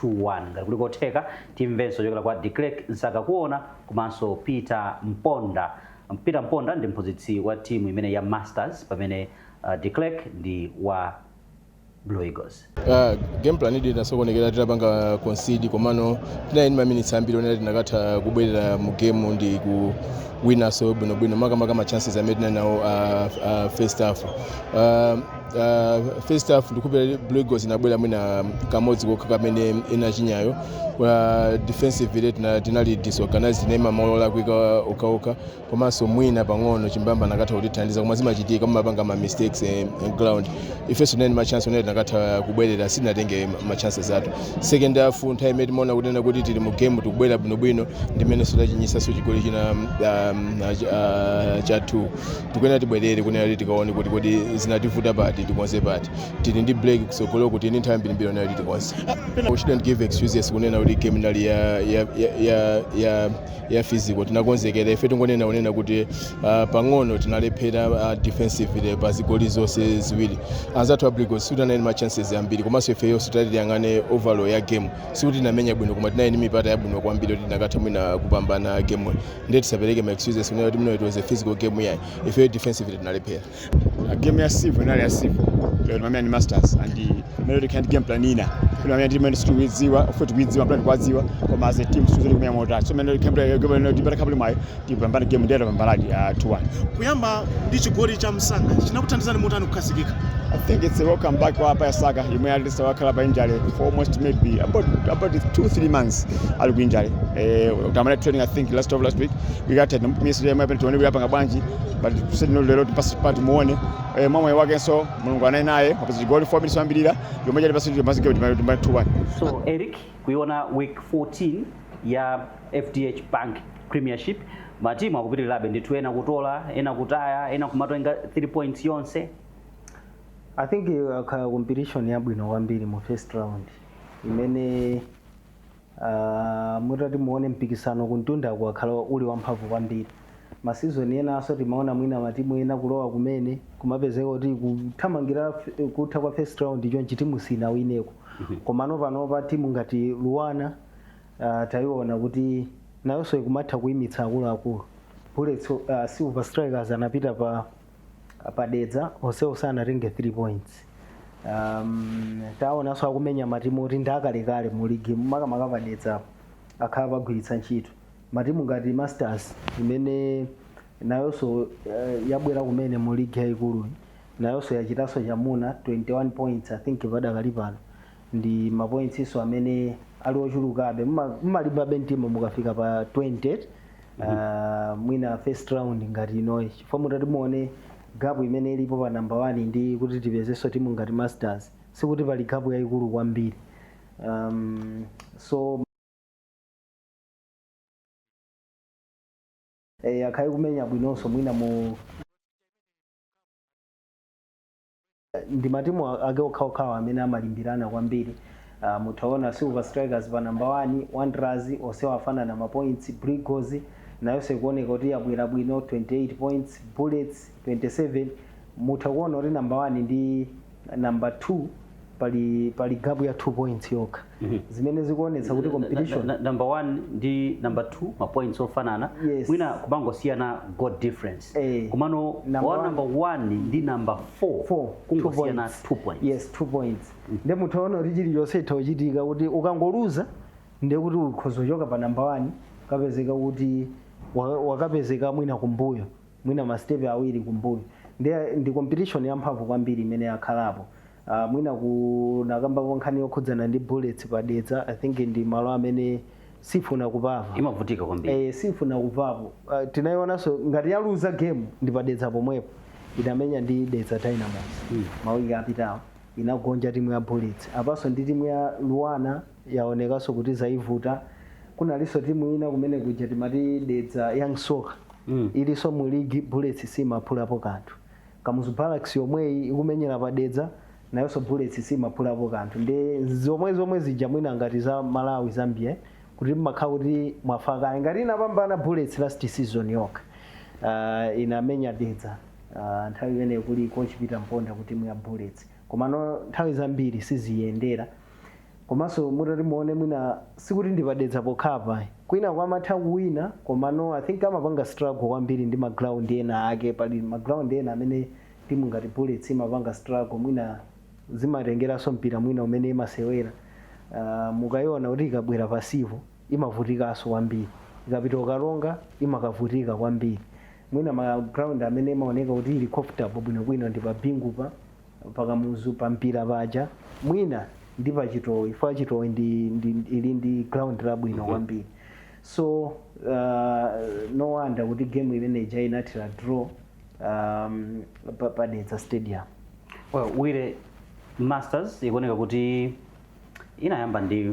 2 1. Ngati kuli kotheka timvenso kuchokera kwa Declerck Msakakuona komanso Peter Mponda. Peter Mponda ndi mphunzitsi wa timu imeneyi ya Masters pamene Declerck ndi wa. blue eagles Ah, game planidi
inasokonekera tinapanga concede komano tinali ndi maminitsi ambiri onena tinakatha kubwerera mu game ndi kuwinaso bwinobwino makamaka ma chances amene tinali nawo ah, ah, first half Ah, ah, first half ndikhulupira blue eagles inabwera mwina kamodzi kokha kamene inachinyayo Ah, defensively tina- tinali disorganized tinaima malo olakwika okhaokha komanso mwina pang'ono chimbamba anakatha kutithandiza koma zimachitika mumapanga ma mistakes eh, in ground ifenso tinali ndi ma chance onena tinakatha kubwerera sitinatenge ma chances athu second half nthawi imene timaona kunena kuti tili mu game tikubwera bwinobwino ndimenenso tachinyisanso chigoli china um, uh, ch- uh, cha 2 tikuyenera tibwerere kunena kuti tikaone kuti kodi zinativuta pati tikonze pati tili ndi break kutsogoloku tili ndi nthawi yambirimbiri onena kuti tikonze we shouldn't give excuses kunena kuti game inali ya ya ya ya, ya ya physical tinakonzekera ife tingonena kunena kuti uh, pang'ono tinalephera uh, defensively pa zigoli zonse ziwiri anzathu a Blue Eagles sikuti anali ndi ma chances ambiri komanso ifeyonso titati tiyang'ane overall ya game sikuti tinamenya bwino koma tinali ndi mipata yabwino kwambiri kuti tinakatha mwina kupambana game ndiye tisapereke ma excuses kunena kuti mwina it was a physical game yayi ifeyo defensively tinalephera Uh, game
ya Civil inali ya Civil lero timamenya ndi Masters and timayenera tikhale ndi game plan ina kuti timamenya ndi imene sitikuidziwa ofe tikuidziwa plan tikuwadziwa koma as a team suzuli kumenya motatu so timayenera tikhale ndi game plan ino tipata kapuli mwayo tipambane game ndiye tapambanadi uh, 2-1 kuyamba
ndi chigoli cha msanga chinakuthandizani motani kukhazikika I think it's
a welcome back wa hapa ya Saka imwe at least wakhala pa injury for almost maybe about about 2 3 months ali ku injury eh atayamba training I think last of last week we got a miss ya mapeni tione kuti apanga bwanji pali kuseni lero timpatse mpata timuone eh, mwa mwayi wakenso mulungu anali naye wapeza chigoli 4 minutes yoyambirira yomwe chatipatsa timazike kuti 2-1 so eric
kuiona week 14 ya fdh bank premiership matimu akupitirirabe ndithu ena kutola ena kutaya ena kumatenga 3 points
yonse i think yakhala competition yabwino kwambiri mu first round imene Mutati muone mpikisano kumtundaku wakhala uli wamphamvu kwambiri. Ma season enanso timaona mwina matimu ena kulowa kumene kumapezeka kuti kuthamangira kutha kwa first round chonchi timu sinawineko. Komano panopa timu ngati Luanar taiona kuti nayonso ikumatha kuimitsa akuluakulu. Bullets, Silver Strikers anapita pa Ah, pa dedza onsewo sanatenge 3 points um, taonanso akumenya matimu oti ndi akalekale mu ligi makamaka pa dedza apo akhala pagwiritsa ntchito matimu ngati masters imene nayonso uh, yabwera kumene mu ligi yayikuluyi nayonso yachitanso chamuna 21 points i think padakali pano ndi mapointsinso amene ali ochulukabe Muma- mumalimbabe mtima mukafika pa 20 uh, mwina first round ngati inoyi chifukwa mutati muone gapu imene ilipo pa namba 1 ndi kuti tipezenso timu ngati masters sikuti pali gapu yayikulu kwambiri um, so eh, akhala akumenya bwinonso mwina mu ndi matimu a- ake okhaokhawa amene amalimbirana kwambiri uh, mutaona silver strikers pa namba 1 wanderers onsewa afanana mapoints Blue Eagles nayonso ikuoneka kuti yabwera bwino 28 points bullets 27 mutha kuona kuti namba 1 ndi namba 2 pali pali gap ya 2 points yokha zimene zikuonetsa kuti competition Na- na- number one
ndi number two mapoints ofanana Yes. mwina kumangosiyana goal difference Eh. komano Number wa one. number one ndi number four, four kungosiyana points. two points yes two
points nde munthu aona kuti chilichonse itha kuchitika kuti ukangoluza nde kuti ukhoza kuchoka pa namba wani kupezeka kuti wa- wakapezeka mwina kumbuyo mwina mastepe awiri kumbuyo nde ndi competition yamphamvu kwambiri imene yakhalapo Uh, mwina kunakambako nkhani yokhudzana ndi bullets pa Dedza I think ndi malo amene sifuna kuphapo imavutika kwambiri eh,
sifuna kuphapo
uh, tinayionanso ngati yaluza game ndi pa Dedza pomwepo inamenya ndi Dedza Dynamos mm. mawiki apitawo inagonja timu ya bullets apanso ndi timu ya Luanar yaonekanso kuti zaivuta kunalinso timu ina kumene kuja timati Dedza Young Soccer mm. ilinso mu ligi bullets simaphulapo kanthu Kamuzu Barracks yomweyi ikumenyera pa Dedza nayonso Bullets simaphulapo kanthu ndi zomwe zomwe zija mwina ngati za Malawi Zambia kuti mmakhala kuti mwafa kale ngati inapambana Bullets last season yokha uh, inamenya Dedza uh, nthawi imeneyo kuli coach Peter Mponda kuti timu ya Bullets komano nthawi zambiri siziyendera Komanso mutati muone mwina sikuti ndi pa Dedza pokhapa ayi. Kwinaku amatha kuwina komano I think amapanga struggle kwambiri ndi ma ground ena ake. Pali ma ground ena amene timu ngati Bullets imapanga struggle mwina zimatengeranso mpira mwina umene imasewera. Uh, mukaiona kuti ikabwera pa Civo imavutikanso kwambiri. Ikapita ku Karonga imakavutika kwambiri. Mwina ma ground amene imaoneka kuti ili comfortable bwinobwino ndi pa Bingu pa pa Kamuzu pa Mpira paja mwina ndi pa Chitowe chifukwa Chitowe ndi, ndi, ili ndi ground labwino kwambiri so uh, no wonder kuti game imene ija inathera draw um, pa, pa Dedza stadium well
Wawa Masters ikuoneka kuti inayamba ndi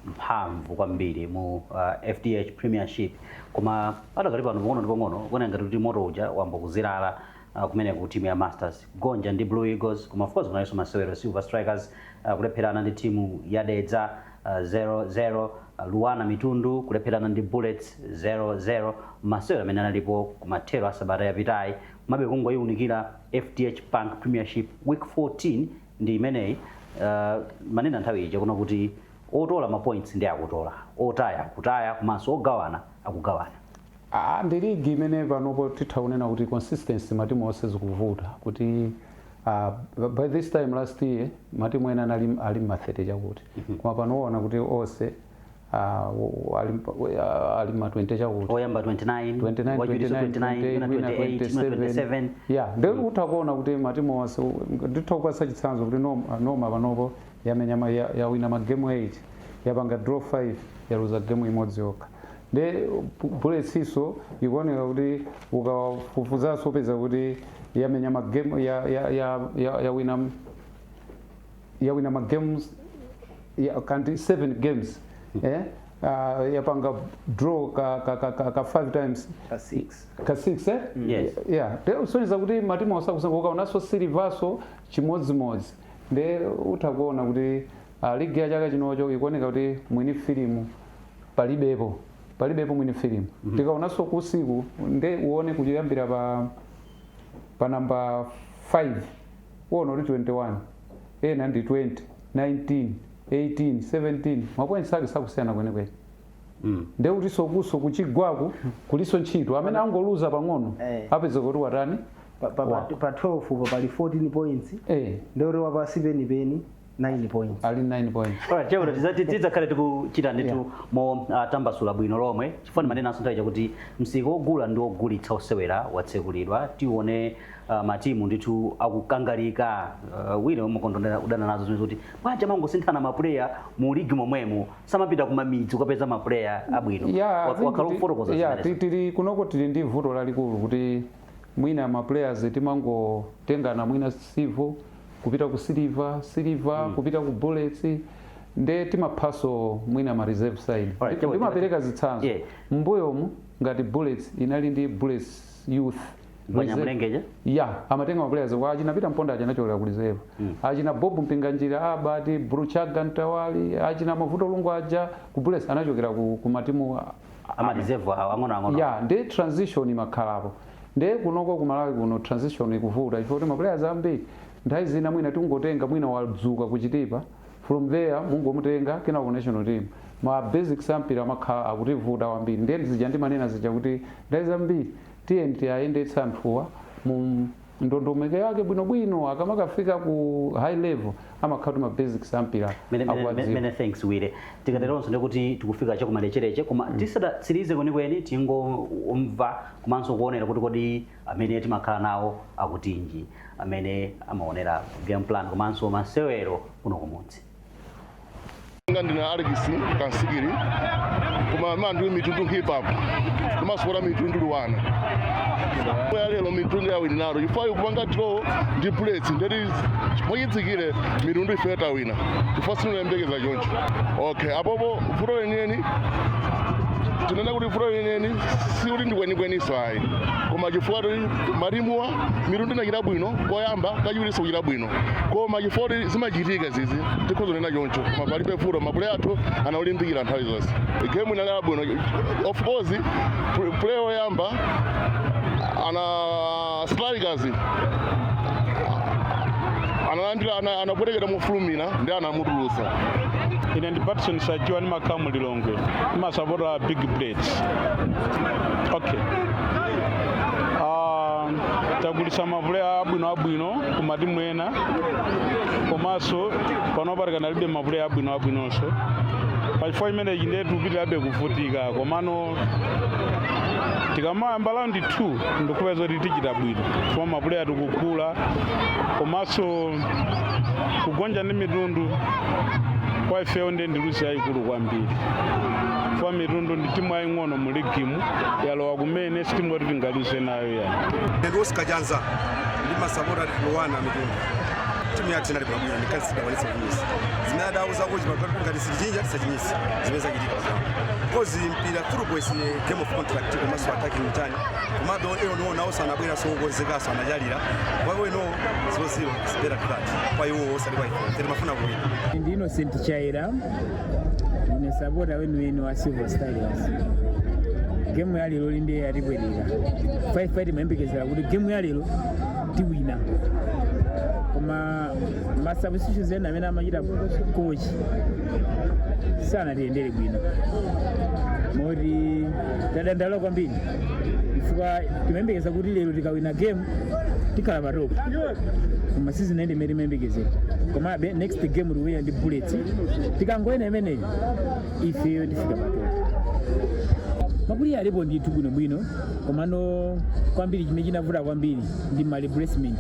mphamvu kwambiri mu uh, fdh premiership koma padakali pano pang'ono ndi pang'ono kuoneka ngati kuti moto uja wayamba kuzilala uh, kumeneku timu ya masters kugonja ndi blue eagles koma of course kunalinso masewero silver strikers uh, kulepherana ndi timu ya dedza uh, 00 uh, Luanar Mitundu kulepherana ndi bullets 00 masewero amene analipo kumathero a sabata yapitayi mabe kungoyiwunikira fdh bank premiership week 14 ndi imeneyi uh, manena nthawi ija kunena kuti otola mapoints ndi akutola otaya akutaya komanso ogawana akugawana Aaa
ndi league imene panopo titha kunena kuti consistency matimu onse zikuvuta kuti uh, by this time last year matimu ena anali ali mma 30 chakuti mhm. koma pano uona kuti onse uh, ali, uh, ali mma 20 chakuti oyamba 29 29 29 28
27 yeah ndio mhm.
utha kuona kuti matimu onse nditha kupasa chitsanzo kuti noma, noma panopo yamenya yawina magemu 8 yapanga draw 5 yaluza gemu imodzi yokha nde buletsinso ikuoneka kuti ukawafufuzanso upeza kuti yamenya magemu yawina yawina magames ya, kanti 7 games eh? Uh, yapanga draw ka, ka, ka, ka, ka five times Ka six. ka six eh? Yes. yeah
te usonyeza
kuti matimu osakusanguka ukaonanso silivaso chimodzimodzi nde utha kuona kuti league ya chaka chinocho ikuoneka kuti mwini filimu palibepo palibepo mwini filimu mm -hmm. tikaonanso kusiku nde uone kuyambira pa pa namba 5 uona kuti 21 ena ndi 20 19 18 17 mapoints ake sakusiyana kwenekwene Mm. nde kutinso kuso kuchigwaku kulinso ntchito amene angoluza pang'ono Eh. apeza kuti watani pa, pa,
pa, Wow. pa 12 po pali 14 points Eh. ndikuti wapasi penipeni 9 points ali 9 points
Alright,
chero tidzakhale tikuchita ndithu Yeah. mo uh, tambasula bwino lomwe chifukwa ndimanenanso nthawi yakuti msika wogula ndi wogulitsa osewera watsekulidwa tione uh, matimu ndithu akukangalika uh, wina umakondonera udana nazo zimene zoti paja mumangosinthana mapuleya mu ligi momwemo samapita kumamidzi kukapeza mapuleya abwino Yeah, I Wa- think wakhala kuti- ukufotokoza yeah, zimenezi. ti- tili kunoko
tili ndi vuto lalikulu kuti mwina ma players timangotengana mwina sivo kupita ku siliva siliva mm. kupita ku bullets nde timaphaso mwina ma reserve side right, ndimapereka zitsanzo yeah. mbuyomu ngati bullets inali ndi bullets youth
banyamulengenya ya
amatenga maplayers kwa achina pita mponda anachokera ku reserve mm. achina bob mpinganjira Albert Brave Chagga Mtawali achina mavuto lungu aja ku bullets anachokera ku, ku matimu ama
reserve awo ang'ono ang'ono ya nde
transition imakhalapo ndiye kunoko ku malawi kuno transition ikuvuta chifukwa chakuti maplayers ambiri nthawi zina mwina tingotenga mwina wadzuka ku Chitipa from there mungomutenga kena ku national team ma basics ampira amakhala akutivuta kwambiri ndiye zija ndimanena zija kuti nthawi zambiri tiyeni tiwayendetse anthuwa mu ndondomeko yake bwinobwino akamakafika ku high level amakhala kuti ma basics ampira Many, many, akuwadziwa many thanks
willie tikateronso ndikuti tikufika chakumalechereche koma tisadatsirize kwenikweni tingomva komanso kuonera kuti kodi amene timakhala nawo akutinji amene amaonera game plan komanso masewero kuno kumudzi
nga ndine alex kansikiri koma mandu mitundu hip hop ndimasapota mitundu luanar ya lero mitundu yawina lero chifukwa kupanga draw ndi bullets ndeti moyitsikire mitundu ife tawina chifukwa sitimayembekeza choncho okay apopo vuto lenileni tinena kuti vuto lenileni si kuti ndikwenikweninso ayi koma chifukwa ti marimuwa mitundu inachita bwino koyamba kachiwirinso kuchita bwino koma chifukwa choti zimachitika zizi tikhoza kunena choncho koma palibe vuto mapuleya athu anaulimbikira nthawi zonse game inali abwino of course pl- play oyamba ana strikers analandira ana- anapwetekera mofulumira ndiye anamutulutsa ine
ndi patson sachiwa ndimakhala mu lilongwe ndimasapota big bullets okay Ah, tagulisa mapuleya abwino abwino ku matimu ena komanso panopa tikanalibe mapuleya abwino abwinonso pachifukwa chimenechi ndiye tikupitirabe kuvutika komano tikamayamba round 2 ndikhulupirira zoti tichita bwino chifukwa mapuleya tikugula komanso kugonja ndi mitundu kwa ifeyo ndiye ndi luzi yayikulu kwambiri chifukwa mitundu ndi timu yaying'ono mu ligimu yalowa kumene si timu yoti tingaluze nayo ayi Ndi Oscar Janza
ndimasapota luanar mitundu timu yathu inali bwino ndi kansi dakwanisa kunyisa zimene adauza kuti pagati kuti ngati sitichinya tisachinyitse zimene zachitika pagama kozi mpira football is a game of contact komanso attacking mtani komabe eno niwo nawonso anabwera okonzekanso anachalira kwawo eno zero zero is better tukati kwa iwo osati kwa ife timafuna kuwina ndi innocent
chaira ndine sapota weniweni wa silver strikers gemu ya lero inde yatipweteka chifukwa timayembekezera kuti gemu ya lero tiwina koma masubstitutions ena amene amachita kochi sanatiyendere bwino moti tadandaula kwambiri chifukwa timayembekeza kuti lero tikawina game tikhala pa top koma sizinayende mmene timayembekezera komabe next game tiwina ndi bullet tikangowina imeneyi ifeyo tifika pa top mapuleya alipo ndithu bwinobwino komano kwambiri chimene chinavuta kwambiri ndi ma replacement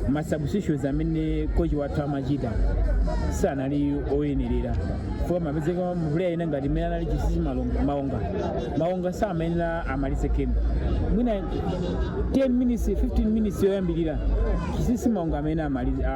ma substitutions amene kochi wathu amachita sanali oyenerera chifukwa amapezeka mapuleya ena ngati mmene anali chisisi malonga- maonga maonga samayenera amalize game mwina 10 minutes 15 minutes yoyambirira chisisi maonga amene amalize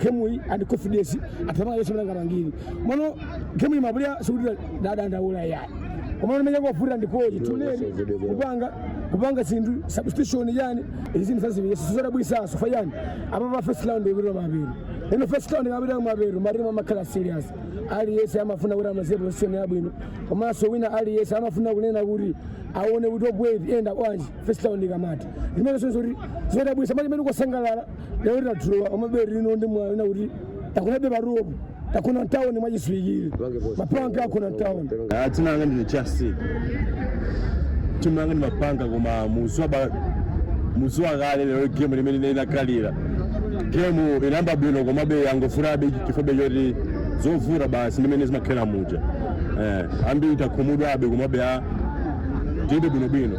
gemuyi and confidence athamanga yesu mlanga mangiri mono gemuyi ma Bullets sikuti tadandaula yayi komano mwina kwavuta ndi koyi tinene kupanga kupanga zinthu substitution yani izi zinthu zazibiri yesu sizodabwitsanso fayani apa pa first round ikutira mabiri ino first round ikapita mabiri matimu amakhala serious aliyense amafuna kuti amalize position yabwino komanso wina aliyense amafuna kunena kuti aone kuti obwezi yenda bwanji first round ndikamati limene sonse kuti zodabwisa mali imene kusangalala lero ta draw amaberi lino ndi mwayi wina kuti takunabe paruopo takuna mtawuni mwachiswikire mapanga akuna mtawuni Ah, dzina langa ndine
justin timu yanga ndimapanga koma muziwa ba- muziwa kale lero gemu limene ine inakalira gemu inayamba bwino komabe yangovutabe chifukwa choti zovuta basi ndimene zimakhala muja eh, ambiri takhumudwabe komabe a tilibe bwinobwino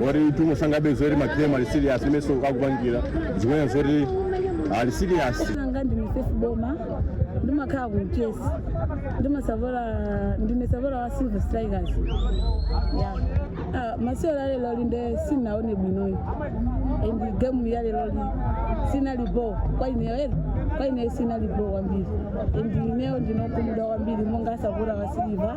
woti timu sangabe zoti magemu ali serious mmenenso akupangira zikuoneka zoti ali serious anga ndi misefu boma
ndimakhala ku mchesi ndine sapo ndine sapota wa silver strikers ya ah, masewero a lero lino nde sinaone bwinoyo and gemu ya lero li sinali bo kwa ineyo ere kwa ineyo sinali bo kwambiri and ineyo ndine okhumudwa kwambiri monga sapota wa silver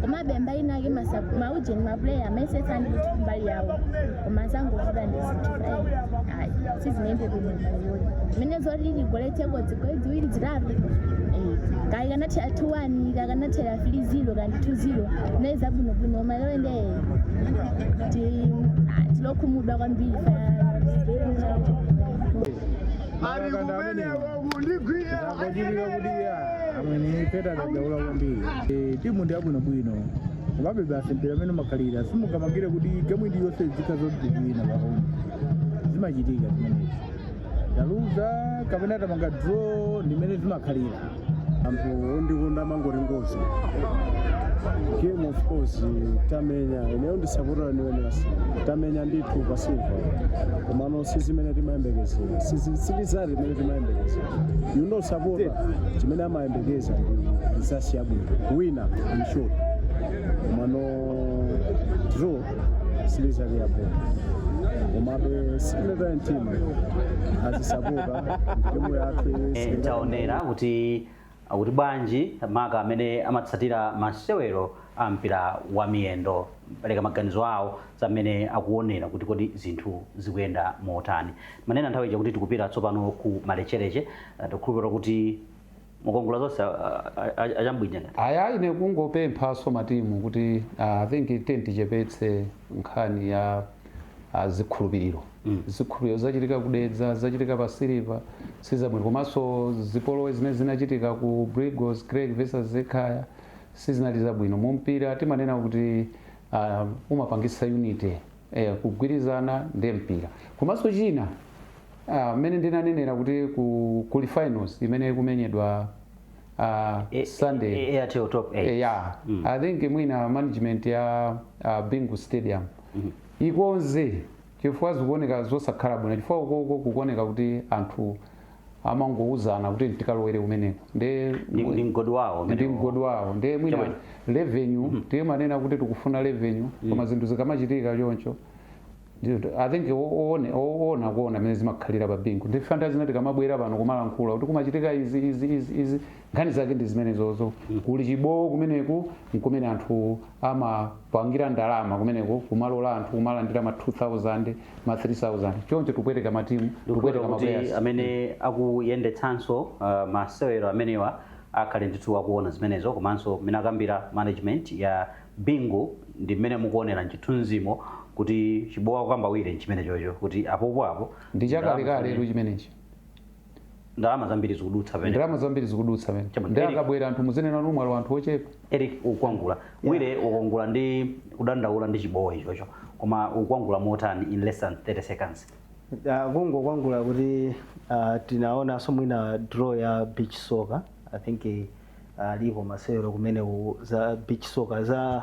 komabe mbali inake masa- maujeni mapuleya amayesetsa ndithu kumbali yawo koma zangovuta ndi zinthu eh, ayi sizinayende bwino mbaliyoyo zimene zoti tigoletseko zigoli ziwiri zitatu eh, kaya kanathera 2-1 kaya kanathera 3-0 kaya 2-0 nde zabwinobwino koma lero nde ti- ah, tili okhumudwa kwambiri pa- Ari kumene
wakundigwira. Ndakujirira kudia. amene be tadandaula kwambiri Eh, timu ndi yabwinobwino komabe basi mpira ndi mmene umakhalira siungamangire kuti gemu iliyonse zikha zoti tiwina pahome zimachitika zimenezi taluza kapena tapanga draw ndimene zimakhalira
anthu ondikonda amangoti ngozi game of course tamenya ineyo ndine sapota wa manoma basi tamenya ndithu pa silva komano sizimene timayembekezera si rizati imene timayembekezera you know sapota chimene amayembekeza ndi rizati yabwino wina in short mano draw si rizati yabwino komabe sitinataye mtima tizisapota timu yathu Eh, taonera kuti
Akuti bwanji maka amene amatsatira masewero a mpira wa miyendo kupereka maganizo awo za mmene akuonera kuti kodi zinthu zikuyenda motani timanena nthawi ija kuti tikupita tsopano ku malechereche tikukhulupirira kuti mukongola zonse a- a- a- achambwija ngati Aya
ine kungopemphanso matimu kuti ah, I think tiyeni tichepetse nkhani ya ah, zikhulupiriro mm. zipolowe zachitika ku Dedza zachitika pa Silver sizabwino komanso zipolowe zimene zinachitika ku Brigos Greg versus Ekhaya sizinali zabwino mu mpira timanena kuti uh, umapangisa unity eh, kugwirizana ndi mpira komanso china mmene uh, ndinanenera kuti ku, kuli finals imene ikumenyedwa uh, E- Sunday e- e- Airtel Top 8. Eh, yeah.
I think mwina
management ya uh, Bingu Stadium ikonze chifukwa zikuoneka zosakhala bwino chifukwa ukoko kukuoneka kuti anthu amangouzana kuti tikalowere kumeneko nde Ndi- ndi mgodi wawo ndi umenewo.
mgodi wawo nde mwina Chabwino.
revenue timanena kuti tikufuna revenue koma zinthu zikamachitika choncho ndi- i think oone- oona kuona mmene zimakhalira pa Bingu ndife nthawi zina tikamabwera pano kumalankhula kuti kumachitika izi izi izi izi nkhani zake ndi zimenezozo kuli chibowo kumeneku nkumene anthu amapangira ndalama kumeneku kumalola anthu kumalandira ma 2000 ma 3000 choncho tikupweteka matimu tikupweteka tikupweteka kuti maplayers amene
akuyendetsanso uh, masewero amenewa akhale ndithu akuona zimenezo komanso mmene akambira management ya Bingu ndi mmene mukuonera mchithunzimo kuti chibowo chikukambidwa nchimenechocho kuti apopo apo ndi chakalekale
chimenechi
ndalama zambiri zikudutsa pene ndalama zambiri
zikudutsa pene Chabwino. nde akabwera anthu muzinena kuti mwalowa anthu ochepa Eric ukwangula
Wire ukwangula ndi kudandaula ndi chibowo chocho koma ukwangula motani in less than 30 seconds Ah,
kungokwangula kuti ah, tinaonanso mwina draw ya beach soccer i think eh, alipo masewero kumene ku- za beach soccer za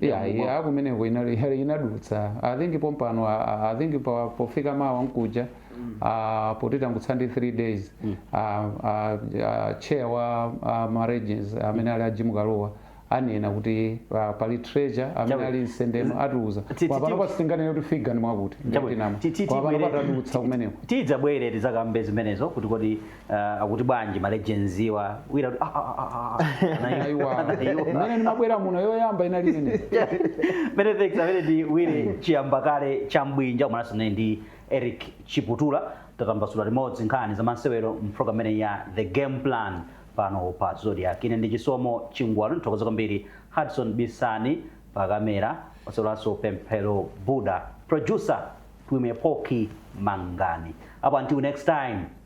ya Yamu- ya
kumeneko inali heli inadutsa i think pompano a- a- i think pa- pofika mawa nkuja ah, poti tangotsala ndi 3 days ah, ah, ah, chair wa ah, ma regions amene ali a Jim Kalua anena kuti ah, pali treasurer amene Chabe. ali msendeno atiuza Ti- ti- kwa pano ti- sitinganene kuti figa ndi mwakuti Chabe. ndinganame Ti- ti- kwa pano tibwere- patadutsa kumeneko tidzabwere tidzakambe
zimenezo kuti kodi uh, akuti bwanji ma legends-wa wina kuti "Ah, ah, ah, ah, ah." Anaiwa. Aiwa.
Anaiwa. Imene ndimabwera muno yoyamba inali ine. mene thanks
amene ndi Wire Chiyambakale Chambwinja komanso naye ndi Eric Chiputula tatambasula limodzi nkhani za masewero mprogram imene ya The Game Plan pano pa Zodiak ine ndi Chisomo Chingwalu ndithokoze kwambiri Hudson Bisani pa kamera osaiwalanso Pemphero Buda producer Twimepoki Mangani up until next time